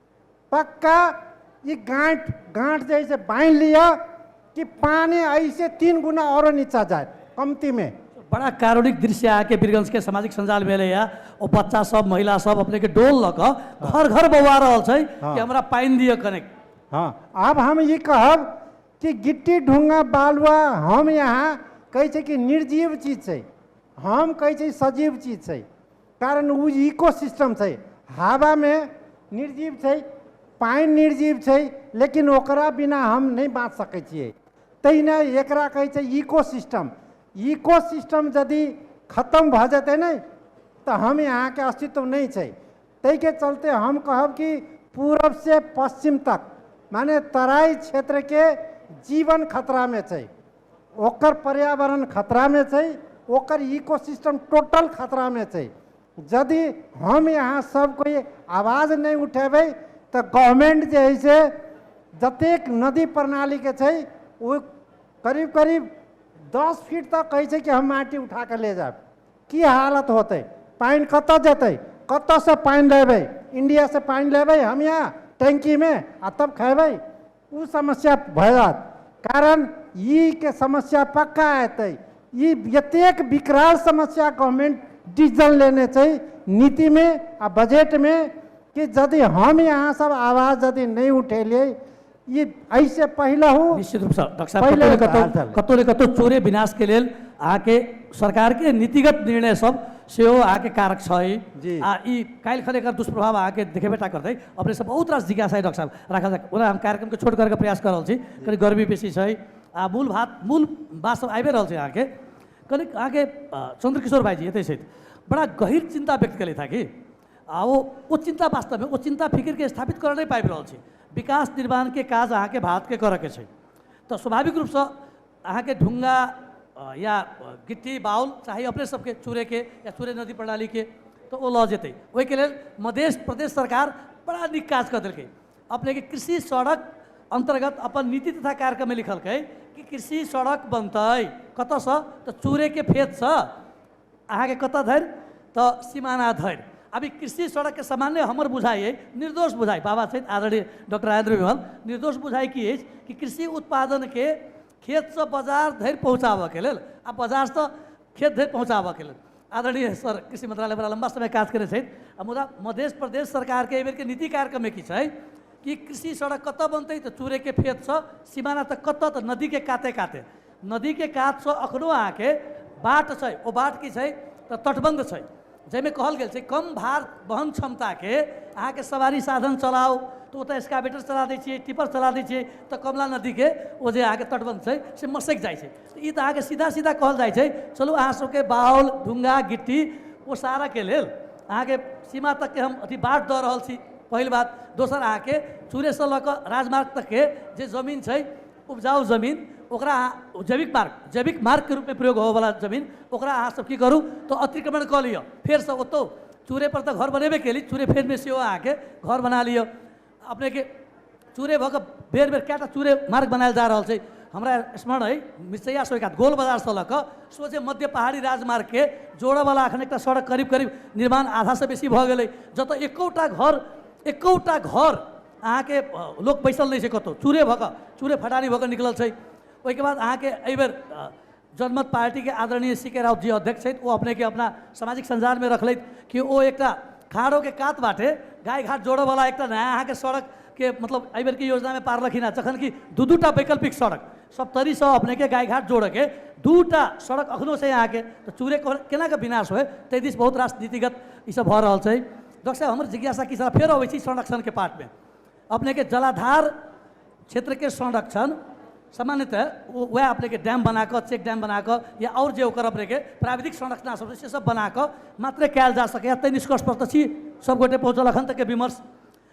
पक्का ई गाँठ गाँठ जे है से बांध लिया कि पानी ऐसे तीन गुना और नीचा जाए कमती में बड़ा कारुणिक दृश्य आके वीरगंज के सामाजिक संजाल में या ओ बच्चा सब महिला सब अपने के डोल लक घर घर बौआ रहल छै हाँ। कि हमरा पानी दियो कनेक हाँ अब हम ये कहब कि गिट्टी ढूंगा बालुआ हम यहाँ कहै छै कि निर्जीव चीज छै हम कहै छै सजीव चीज छै कारण ओ इको सिस्टम छै हवामे निर्जीव छै पानि निर्जीव छै लेकिन ओकरा बिना हम नहि बाँच सकै छियै तहिना एकरा कहै छै इको सिस्टम इको सिस्टम यदि खतम भऽ जेतै ने तऽ हम यहाँके अस्तित्व नहि छै ताहिके चलते हम कहब कि पूरब से पश्चिम तक माने तराई क्षेत्रके जीवन खतरामे छै ओकर पर्यावरण खतरा में छै ओकर इको सिस्टम टोटल खतरा में छै यदि हम यहाँ सब कोई आवाज नहीं उठेबै तो गवर्नमेंट जे है से जतेक नदी प्रणाली के छै ओ करीब करीब दस फीट तक कहै छै कि हम माटी उठा के ले जाब की हालत होते पानि कतऽ जेतै कतऽसँ पानि लेबै इंडियासँ पानि लेबै हम यहाँ टैंकीमे आ तब खेबै ओ समस्या भयत कारण ई के समस्या पक्का एतै ई एतेक विकराल समस्या गवर्नमेंट डिसीजन लेने छै नीति में आ बजट में कि यदि हम यहाँ सब आवाज यदि नहीं उठेलिए ई ऐसे पहिलहु निश्चित रूपसँ डॉक्टर साहब पहिले कतहु ने कतहु बात कतहु ने कतहु चोरे विनाश के लेल अहाँके सरकार के नीतिगत निर्णय सब सेहो अहाँके कारक छै जी। आ ई काल्हि खन एकर दुष्प्रभाव अहाँके देखेबे टा करतै अपने सब बहुत रास जिज्ञासा है डॉक्टर साहब राखल जाए ओना हम कार्यक्रमके छोट करैके प्रयास कऽ रहल छी कनि गर्मी बेसी छै आ मूल भात मूल बात सब आबिए रहल छै अहाँके कनि अहाँके अ, चंद्रकिशोर भाईजी एतै छथि बड़ा गहिर चिन्ता व्यक्त केलथि हँ कि आ ओ ओ चिन्ता वास्तवमे ओ चिन्ता फिकिरके स्थापित करऽ नहि पाबि रहल छै विकास निर्माणके काज अहाँके भारतके करऽके छै तऽ स्वाभाविक रूपसँ अहाँके ढुङ्गा अ, या अ, गिट्टी बाउल चाहे अपने सबके चुरेके या चुरे नदी प्रणालीके तऽ ओ लऽ जेतै ओहिके लेल मधेश प्रदेश सरकार बड़ा नीक काज कऽ देलकै अपनेके कृषि सड़क अन्तर्गत अपन नीति तथा कार्यक्रममे लिखलकै कि कृषि सड़क बनतै कतऽसँ तऽ चुरेके फेदसँ अहाँ के कतऽ धरि तऽ सीमाना धरि अभी कृषि सड़क के सामान्य हमर बुझाइ अइ निर्दोष बुझाइ बाबा छथि आदरणीय डॉक्टर राजेंद्र विमल निर्दोष बुझाइ की अछि कि कृषि उत्पादन के खेत से बाजार धरि पहुँचाबऽ के लेल आ बाजार से खेत धरि पहुँचाबऽ के लेल आदरणीय सर कृषि मंत्रालय बड़ा लंबा समय काज करै छथि आ मुदा मधेश प्रदेश सरकार के एहि बेर के नीति कार्यक्रम की छै कि कृषि सड़क कतऽ बनतै तऽ चूरे के फेत से सीमाना तक कतऽ तऽ नदी के काते काते नदी के कात सँ अखनो अहाँ के बाट छै। ओ बाट की छै त तटबंध छै। जइ मे कहल गेल छै कम भार वहन क्षमता के अहाँ के सवारी साधन चलाउ त ओतय एस्कावेटर चला दै छियै, टिपर चला दै छियै त कमला नदी के ओ जे अहाँ के तटबंध छै से मसैक जाइ छै। त ई त अहाँ के सीधा सीधा कहल जाइ छै चलू अहाँ सब के बाउल, ढुंगा, गिट्टी ओसारय के लेल अहाँ के सीमा तक के हम अथी बाट द रहल छी पहिल बात। दोसर अहाँ के चुरे सँ ल क राजमार्ग तक के जे जमीन छै, उपजाऊ जमीन ओकरा अहाँ जैविक मार्ग जैविक मार्ग के रूप में प्रयोग होवे वाला जमीन ओकरा अहाँ सब की करू तो अतिक्रमण कऽ लिअ फेर से ओतो चूरे पर तऽ घर बनेबे केली चूरे फेर में सेहो आके घर बना लिअ अपने के चूरे भऽ कऽ बेर बेर कएटा चूरे मार्ग बनायल जा रहल छै हमरा स्मरण अइ मिसैया से एकाध गोल बजार से लऽ कऽ सोझे मध्य पहाड़ी राजमार्ग के जोड़ऽ वाला अखन एकटा सड़क करीब करीब निर्माण आधा से बेसी भऽ गेलै जतऽ एकोटा घर एकोटा घर अहाँके लोक बैसल नहि छै कतहु चूरे भऽ कऽ चूरे फटारी भऽ कऽ निकलल छै ओहिके बाद अहाँके एहिबेर जनमत पार्टीके आदरणीय सी के राउत जी अध्यक्ष छथि ओ अपनेके अपना सामाजिक सञ्जालमे रखलथि कि ओ एकटा खाड़ोके कात बाटे गाय घाट जोड़यवला एकटा नया अहाँके सड़कके मतलब एहिबेरके योजनामे पारलखिन हेँ जखन कि दू दू टा वैकल्पिक सड़क सप्तरीसँ अपनेके गाय घाट जोड़यके दू टा सड़क एखनो छै अहाँके तऽ चूरे केनाके विनाश होय ताहि दिस बहुत रास नीतिगत ईसभ भऽ रहल छै डॉक्टर साहब हमर जिज्ञासा की साहब फेर अबै छी संरक्षण के पार्ट में अपने के जलाधार क्षेत्र के संरक्षण सामान्यतः वो- वह अपने के डैम बना कऽ चेक डैम बना कऽ या और जे ओकर अपने के प्राविधिक संरचना सब छै, से सब बना कऽ मात्र कयल जा सकैए ताहि निष्कर्ष पर तऽ छी सब गोटे पहुँचल अखन तक के विमर्श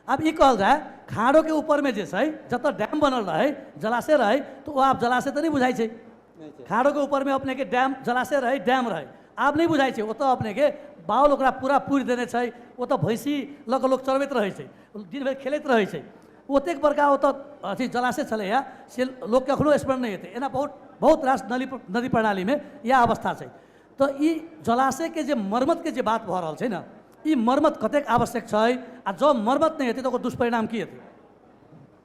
आब ई कहल जाय खाड़ो के ऊपर में जे छै जतऽ डैम बनल रहै जलाशय रहै तऽ ओ आब जलाशय तऽ नहि बुझाइ छै नहीं छै खाड़ो के ऊपर में अपने के डैम जलाशय रहे डैम रहे आब नहीं बुझाई छै ओतऽ अपने के बाउल ओकरा पूरा पूरि देने छै ओतऽ भैंसी लऽ कऽ लोक चरबैत रहै छै दिन भरि खेलैत रहै छै ओतेक बड़का ओतऽ अथी जलाशय छलैए से लोकके एखनो स्मरण नहि हेतै एना बहुत बहुत रास नली नदी प्रणालीमे इएह अवस्था छै तऽ ई जलाशयके जे मर्मतके जे बात भऽ रहल छै ने ई मर्मत कतेक आवश्यक छै आ जँ मर्मत नहि हेतै तऽ ओकर दुष्परिणाम की हेतै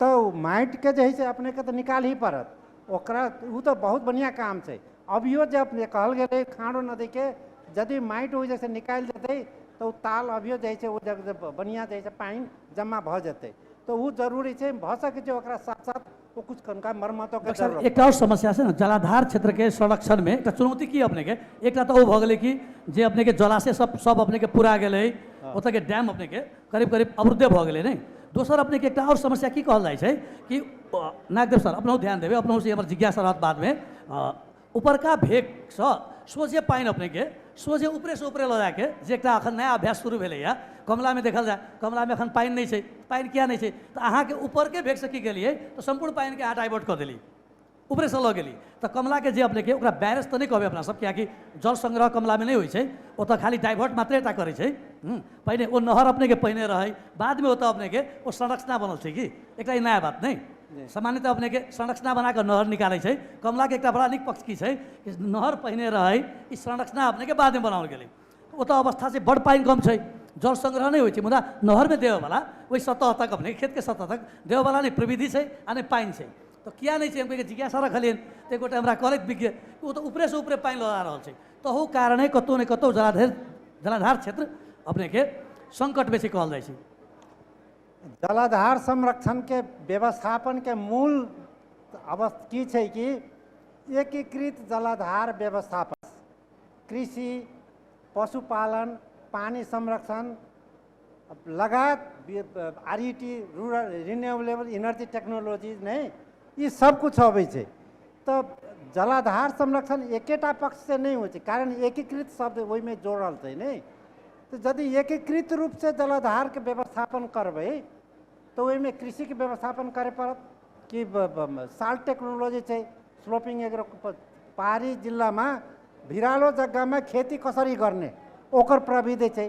तऽ ओ माटिके जे हइ से अपनेके तऽ निकालही पड़त ओकरा ओ तऽ बहुत बढ़िआँ काम छै अभियो जे अपने कहल गेलै खाँड़ो नदीके यदि माटि ओ जैसे निकालि देतै तऽ ओ ताल अभियो जाइ छै ओ जब बढ़िआँ जाइ छै पानि जमा भऽ जेतै तऽ ओ जरूरी छै भऽ सकै छै ओकरा साथ साथ ओ कुछ कनका मरम्मतो के डॉक्टर साहब जरूरत एकटा आओर समस्या छै ने जलाधार क्षेत्रके संरक्षणमे एकटा चुनौती की अपनेके एकटा तऽ ओ भऽ गेलै कि जे अपनेके जलाशय सब सब अपनेके पुरा गेलै ओतऽके डैम अपनेके करीब करीब अवरुद्धे भऽ गेलै नहि दोसर अपनेके एकटा आओर समस्या की कहल जाइ छै कि नागदेव सर अपनहु ध्यान देबै अपनहु से हमर जिज्ञासा रहत बादमे उपरका भेगसँ सोझे पानि अपनेके सोझे ऊपरेसँ ऊपरे लऽ जाके जे एकटा एखन नया अभ्यास शुरू भेलैए कमलामे देखल जाय कमलामे एखन पानि नहि छै पानि किया नहि छै तऽ अहाँके ऊपरके भेगसँ की केलियै तऽ सम्पूर्ण पानिके अहाँ डाइवर्ट कऽ देलियै उपरेसँ लऽ गेली तऽ कमलाके जे अपनेके ओकरा बैरेज तऽ नहि कहबै अपना सब कियाकि जल संग्रह कमलामे नहि होइ छै ओतऽ खाली डाइवर्ट मात्रे टा करै छै हूँ पहिने ओ नहर अपनेके पहिने रहै बादमे ओतऽ अपनेके ओ संरचना बनल छै कि एकटा ई नया बात नहि सामान्यतः अपनेके संरचना बना कऽ नहर निकालै छै कमलाके एकटा बड़ा नीक पक्ष की छै कि नहर पहिने रहै ई संरचना अपनेके बादमे बनाओल गेलै ओतऽ अवस्था छै बड़ पानि कम छै जल संग्रह नहि होइ छै मुदा नहरमे देबऽवला ओहि सतह तक अपने खेतके सतह तक देबऽवला नहि प्रविधि छै आ नहि पानि छै तऽ किया नहि छै हम कहै जिज्ञासा रखलियनि तऽ एक गोटा हमरा कहलथि विज्ञ ओ तऽ ऊपरेसँ ऊपरे पानि लगा रहल छै तहू कारणे कतहु ने कतहु जलाधर जलाधार क्षेत्र अपनेके सङ्कटमे छै कहल जाइ छै जलाधार संरक्षणके व्यवस्थापनके मूल अवस्था की छै कि एकीकृत जलाधार व्यवस्थापन कृषि पशुपालन पानी संरक्षण अब लगात R E T rural renewable energy technology नहीं ये सब कुछ अबै छै तऽ जलाधार संरक्षण एकेटा पक्षसँ नहि होइ छै कारण एकीकृत शब्द ओहिमे जोड़ल छै नहि तऽ यदि एकीकृत रूपसँ जलाधारके व्यवस्थापन करबै तऽ ओहिमे कृषिके व्यवस्थापन करय पड़त कि साल्ट टेक्नोलॉजी छै स्लोपिंग एग्रो पहाड़ी जिल्लामा भिरालो जग्गामा खेती कसरी गर्ने ओकर प्रविधि छै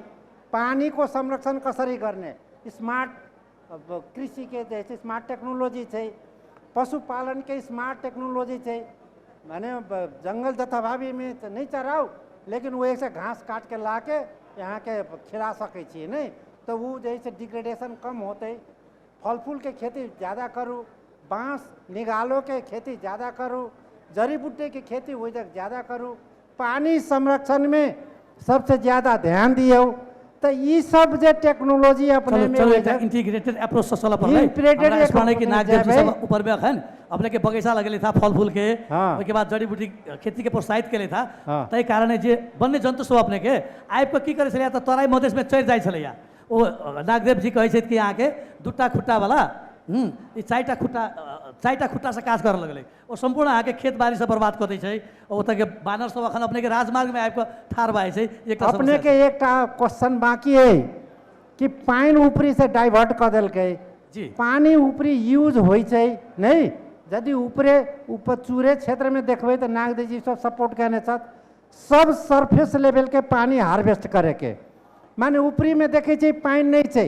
पानीको संरक्षण कसरी गर्ने स्मार्ट अब कृषिके जे छै स्मार्ट टेक्नोलोजी छै पशुपालनके स्मार्ट टेक्नोलोजी छै भने जङ्गल जथाभावीमे तऽ नहि चराउ लेकिन ओहिसँ घास काटिके लाके यहाँके खिला सकै छियै नहि तऽ ओ जे छै डिग्रेडेशन कम होतै फल फूलके खेती ज्यादा करू बाँस निगालोके खेती ज्यादा करू जड़ी बूटीके खेती ओहि जग ज्यादा करू पानी संरक्षण में सबसे ज्यादा ध्यान दियो तऽ ई सब जे टेक्नोलॉजी चलो अपने में चलो होइ एकटा छै, इंटीग्रेटेड अप्रोच से चलऽ पड़लै Integrated हमरा एक स्मरण कि अपने नाग देव जी जेबै। सब ऊपर में अखन अपने के बगीचा लगेले था फल फूल के हाँ। ओहिके बाद जड़ी बूटी खेती के प्रोत्साहित केले था हाँ। ताहि कारणे जे वन्य जंतु सब अपने के आबि कऽ की करै छलैया तऽ तराई मधेश में चढ़ि जाइ छलैया ओ नागदेव जी कहै छथि कि अहाँके दूटा खुट्टा वाला हूँ ई चारिटा खुट्टा अ, चारिटा खुट्टा से काज करऽ लगलै ओ सम्पूर्ण अहाँके खेत बारी सब बर्बाद कऽ दै छै आ ओतऽ के बानर सब अखन अपने के राजमार्ग में आबि कऽ ठाढ़ भऽ जाइ छै ई एकटा अपने समस्या के छै। एकटा क्वेश्चन बाकी है कि पानि ऊपरी से डाइवर्ट कऽ देलकै जी। पानी ऊपरी यूज होइ छै नहि यदि ऊपरे ऊपर चूरे क्षेत्र में देखबै तऽ नागदेव जी सब सपोर्ट कयने छथि सब सरफेस लेवल के पानी हार्वेस्ट करे के माने ऊपरी में देखै छै पानि नहि छै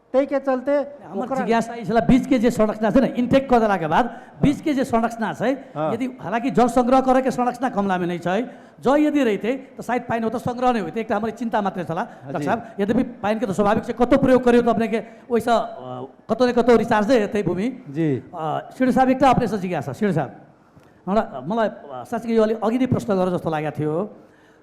ताहिके चलते हमर ओकरा जिज्ञासा ई छलै बीच के जे संरचना छै ने इनटेक कऽ देलाके बाद बीच के जे संरचना छै हाँ। यदि हालांकि जल संग्रह करे के संरचना कमला में नहीं छै जल यदि रहिते तऽ शायद पानि ओतऽ संग्रह नहि होइते एकटा हमर ई चिंता मात्र छला डॉक्टर जी। साहब यद्यपि पानि के तऽ स्वाभाविक छै कतौ प्रयोग करियौ तऽ अपने के ओहिसँ अ, कतौ ने कतौ रिचार्जे हेतै भूमि जी अ, श्री साहब एकटा अपनेसँ जिज्ञासा श्री साहब हमरा मलाई अ, साँच्चै यो अलि अघि नै प्रश्न गरेर जस्तो लागेको थियो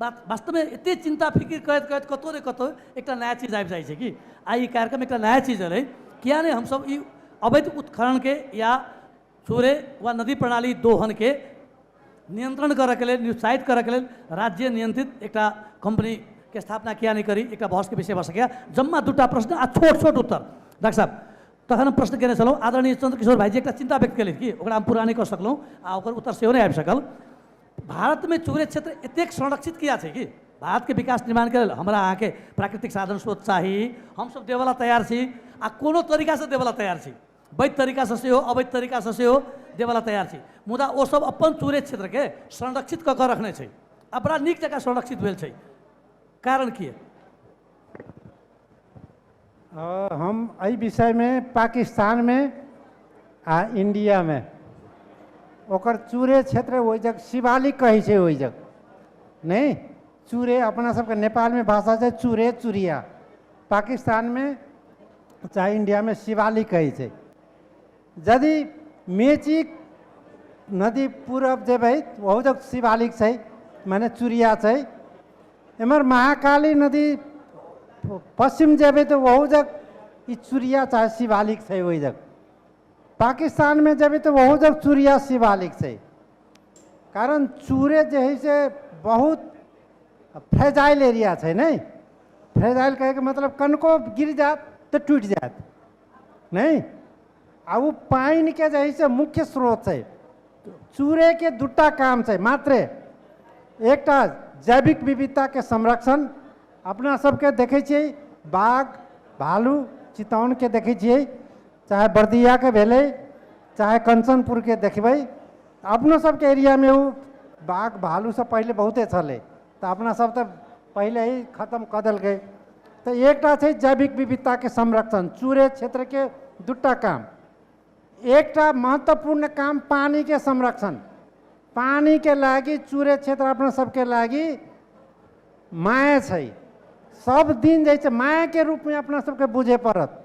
बात वास्तवमे एतेक चिन्ता फिकिर करैत करैत कतहु ने कतहु एकटा नया चीज आबि जाइ छै कि आ ई कार्यक्रम एकटा नया चीज रहै किया नहि हमसभ ई अवैध उत्खननके या सूर्य वा नदी प्रणाली दोहनके नियन्त्रण करैके लेल निरुत्साहित करैके लेल राज्य नियन्त्रित एकटा कम्पनीके स्थापना किया नहि करी एकटा बहसके विषय भऽ सकैए जम्मा दूटा प्रश्न आ छोट छोट उत्तर डाक्टर साहब तखन हम प्रश्न केने छलहुँ आदरणीय चन्द्रकिशोर भाईजी एकटा चिन्ता व्यक्त केलथि कि ओकरा हम पूरा नहि कऽ सकलहुँ आ ओकर उत्तर सेहो नहि आबि सकल भारतमे चुरे क्षेत्र एतेक संरक्षित किया छै कि भारतके विकास निर्माणके लेल हमरा अहाँके प्राकृतिक साधन स्रोत चाही हमसभ देबऽला तैयार छी आ कोनो तरीकासँ देबऽला तैयार छी वैध तरीकासँ सेहो अवैध तरीकासँ सेहो देबऽला तैयार छी मुदा ओसभ अपन चुरे क्षेत्रके संरक्षित कऽ कऽ रखने छै आ बड़ा नीक जकाँ संरक्षित भेल छै कारण की हँ हम एहि विषयमे पाकिस्तानमे आ इण्डियामे ओकर चूरे क्षेत्र ओहि जग शिवालिक कहै छै ओहि जग नहि चूरे अपना सबके नेपालमे भाषा छै चूरे चूरिया पाकिस्तानमे चाहे इण्डियामे शिवालिक कहै छै जदि मेचीक नदी पूरब जेबै ओहू जब शिवालिक छै माने चुरिया छै एम्हर महाकाली नदी पश्चिम जेबै तऽ ओहू जग ई चुरिया चाहे शिवालिक छै ओहि जग पाकिस्तानमे जेबै तऽ ओहू जग चुरिया शिवालिक छै कारण चूरे जे है से बहुत फ्रेजाइल एरिया छै ने फ्रेजाइल कहैके मतलब कनको गिर जायत तऽ टूटि जायत नहि आ ओ पानिके जे है से मुख्य स्रोत छै चूड़ेके दूटा काम छै मात्रे एकटा जैविक विविधताके संरक्षण अपना सबके देखै छियै बाघ भालू चितौनके देखै छियै चाहे बर्दियाके भेलै चाहे कंचनपुरके देखबै अपनो सबके एरियामे ओ बाघ भालूसँ पहिले बहुते छलै तऽ अपना सब तऽ पहिले ही खतम कऽ देलकै तऽ एकटा छै जैविक विविधताके संरक्षण चूरे क्षेत्रके दूटा काम एकटा महत्वपूर्ण काम पानिके संरक्षण पानिके लागि चूरे क्षेत्र अपना सबके लागि माया छै सब दिन जे छै मायाके रूपमे अपना सबके बुझे पड़त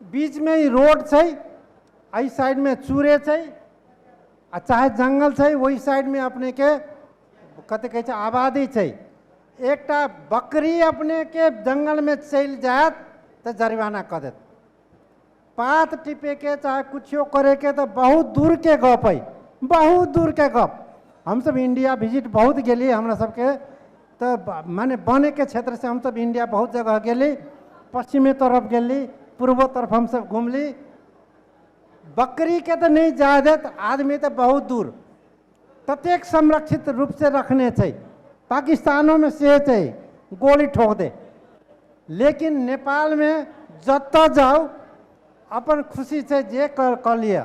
बीच में ई रोड छै एहि साइड में चूरे छै आ चाहे जंगल छै ओहि साइड में अपने के कथी कहै छै आबादी छै एकटा बकरी अपने के जंगल में चलि जायत तऽ जरिमाना कऽ देत पात टिपे के चाहे कुछो करे के तऽ बहुत दूर के गप है बहुत दूर के गप हमसब इंडिया विजिट बहुत गेलियै हमरा सबके तऽ ब- माने बने के क्षेत्र से हमसब इंडिया बहुत जगह गेली पश्चिमे तरफ गेली पूर्वो तरफ हमसब घूमली बकरी के तऽ नहि जाय देत आदमी तऽ बहुत दूर ततेक संरक्षित रूप से रखने छै पाकिस्तानो में से छै गोली ठोक दे लेकिन नेपाल में जतऽ जाउ अपन खुशी छै जे कर कऽ लिअ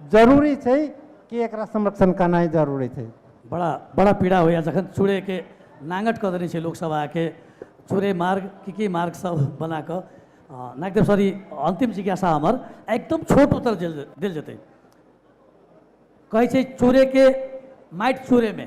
जरूरी छै कि एकरा संरक्षण करनाइ जरूरी छै बड़ा बड़ा पीड़ा होइए जखन चूड़ेके नाङ्गट कऽ देने छै लोकसभ आके चूड़े मार्ग की की मार्ग सब बना कऽ अ, नागदेव सर ई अन्तिम जिज्ञासा हमर आ एकदम छोट उत्तर देल देल जेतै कहै छै चूड़ेके माटि चूड़ेमे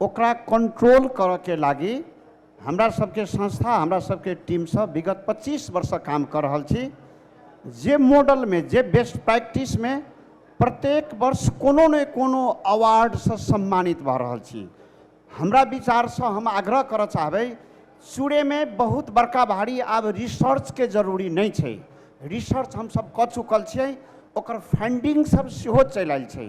ओकरा कन्ट्रोल करऽके लागि हमरा सबके संस्था हमरा सबके टीमसँ विगत पच्चीस वर्षसँ काम कऽ रहल छी जे मॉडलमे जे बेस्ट प्रैक्टिसमे प्रत्येक वर्ष कोनो ने कोनो अवार्डसँ सम्मानित भऽ रहल छी हमरा विचारसँ हम आग्रह करऽ चाहबै सूर्यमे बहुत बड़का भारी आब रिसर्चके जरूरी नहि छै रिसर्च हमसब कऽ चुकल छिए ओकर फन्डिङ्गसब सेहो चलि आएल छै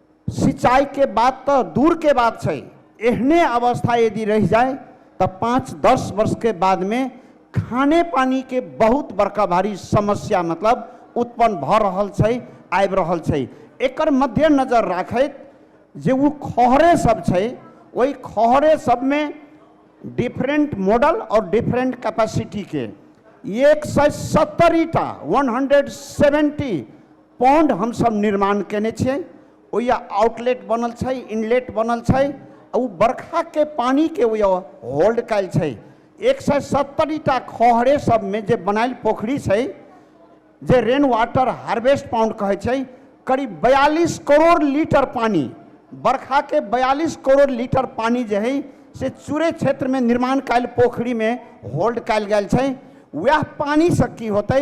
सिंचाइके बात तऽ दूरके बात छै एहने अवस्था यदि रहि जाय तऽ पाँच दस वर्षके बादमे खाने पानीके बहुत बड़का भारी समस्या मतलब उत्पन्न भऽ रहल छै आबि रहल छै एकर मद्देनजर राखैत जे ओ खहरे सब छै ओहि खहरे सबमे डिफरेंट मॉडल और डिफरेंट कैपेसिटीके एक सए सत्तरिटा वन हंड्रेड सेवेंटी पौंड हमसभ निर्माण कयने छियै ओहिया आउटलेट बनल छै इनलेट बनल छै आ ओ बरखाके पानिके ओहिया होल्ड कयल छै एक सए सत्तरिटा खहरे सभमे जे बनायल पोखरि छै जे रेन वाटर हार्वेस्ट पाउंड कहै छै करीब बयालीस करोड़ लीटर पानि बरखाके बयालीस करोड़ लीटर पानि जे हइ से चूरे क्षेत्रमे निर्माण कयल पोखरिमे होल्ड कयल गेल छै उएह पानिसँ की होतै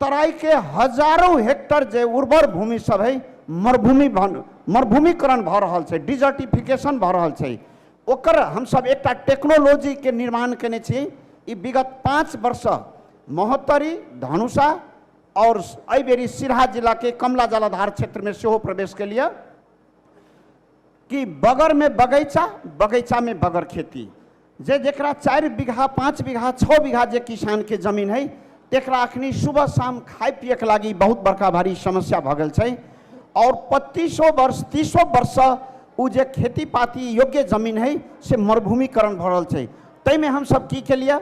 तराई के हजारों हेक्टर जे उर्वर भूमि सब है मरुभूमि भन- मरुभूमिकरण भऽ रहल छै डिजर्टिफिकेशन भऽ रहल छै ओकर हमसब एकटा टेक्नोलॉजी के निर्माण केने छी ई विगत पाँच वर्ष महोत्तरी धनुषा और एहि बेरी सिरहा जिला के कमला जलाधार क्षेत्र में सेहो प्रवेश के लिए कि बगर में बगैचा बगैचा में बगर खेती जे जेकरा चारि बीघा पाँच बीघा छओ बीघा जे किसानके जमीन हइ तकरा अखनी सुबह शाम खाइ पियैके लागि बहुत बड़का भारी समस्या भऽ गेल छै आओर पच्चीसो वर्ष तीसो वर्ष ओ जे खेती पाती योग्य जमीन हइ से मरुभूमिकरण भऽ रहल छै ताहिमे हमसभ की केलिए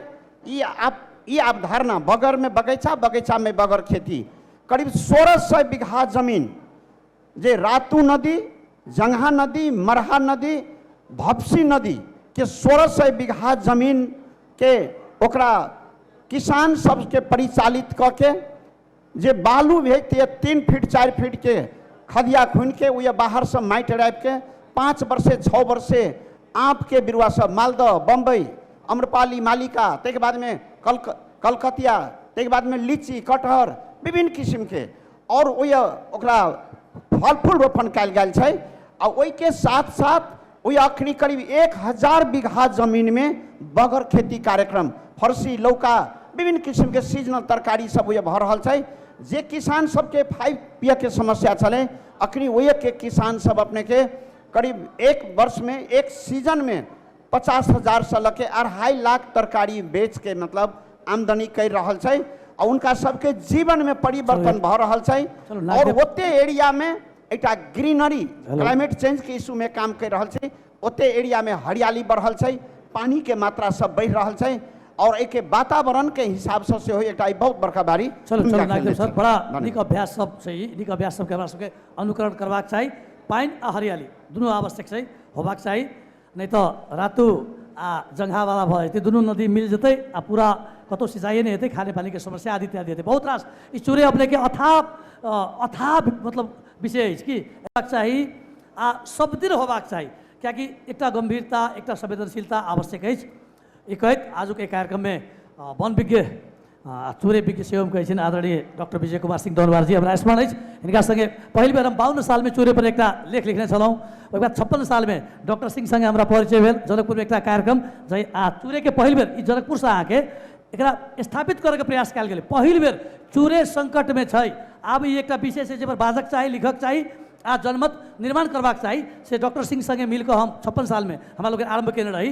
ई आप ई अवधारणा बगरमे बगैचा बगैचामे बगर खेती करीब सोलह सए बीघा जमीन जे रातू नदी जंगहा नदी मरहा नदी भपसी नदी के सोलह सौ बीघा जमीन के ओकरा किसान सबके परिचालित कऽ के जे बालू भेजतियै तीन फीट चारि फीट के खदिया खुनि के ओ बाहर से माटि राखि के पाँच वर्षे छओ वर्षे आँप के बिरुआ सब मालदह बम्बई अम्रपाली मालिका ताहिके बादमे कलक कलकतिया ताहिके बादमे लीची कटहर विभिन्न किसिमके आओर ओहि ओकरा फल फूल रोपण कयल गेल छै आ ओहिके साथ साथ ओहि अखनी करीब एक हजार बीघा जमीनमे बगर खेती कार्यक्रम फरसी लौका विभिन्न किसिमके सीजनल तरकारी सब ओहि भऽ रहल छै जे किसान सबके फाइव पियके समस्या छलै अखनी ओहिके किसान सब अपनेके करीब एक वर्षमे एक सीजनमे पचास हजार से लके अढ़ाई लाख तरकारी बेच के मतलब आमदनी कर रहल छै और उनका सबके जीवन में परिवर्तन भऽ रहल छै चलू, नाग और देव- ओते एरिया में एकटा ग्रीनरी हेलो। क्लाइमेट चेंज के इशू में काम कर रहल छै ओते एरिया में हरियाली बढ़ल छै पानी के मात्रा सब बढ़ रहल छै और एके वातावरण के हिसाब से सेहो एकटा ई बहुत बड़का बारी चलू चलू भूमिका नागदेव खेलने सर छै। बड़ा धन्यवाद। नीक अभ्यास सब छै ई नीक अभ्यास सबके हमरा सबके अनुकरण करबाक चाही पानि आ हरियाली दुनू आवश्यक छै होबाक चाही नहि तऽ रातू आ जंघावाला भऽ जेतै दुनू नदी मिल जेतै आ पूरा कतहु सिंचाइए नहि हेतै खाने पानीके समस्या आदि इत्यादि हेतै बहुत रास ई चूड़े अपनेके अथाह अ, अथाह मतलब विषय अछि कि हेबाक चाही आ सभदिन होबाक चाही किएकि एकटा गम्भीरता एकटा संवेदनशीलता आवश्यक अछि यी कहैत आजुको एहि कार्यक्रममे वनविज्ञ चोरे विज्ञ सेवम कहै छियनि आदरणीय डॉक्टर विजय कुमार सिंह दौरवारजी हमरा स्मरण अछि हिनका सङ्गे पहिल बेर हम बावन्न सालमे चोरेपर एकटा लेख लिखने छलहुँ ओहि बाद छप्पन सालमे डॉक्टर सिंह सङ्गे हमरा परिचय भेल जनकपुरमे एकटा कार्यक्रम जै आ चोरेके पहिल बेर ई जनकपुरसँ अहाँके एकरा स्थापित करैके प्रयास कयल गेलै पहिल बेर चोरे सङ्कटमे छै आब ई एकटा विषय छै जाहिपर बाजक चाही लिखक चाही आ जनमत निर्माण करबाक चाही से डॉक्टर सिंह सङ्गे मिलकऽ हम छप्पन सालमे हमरा लोकनि आरम्भ कयने रही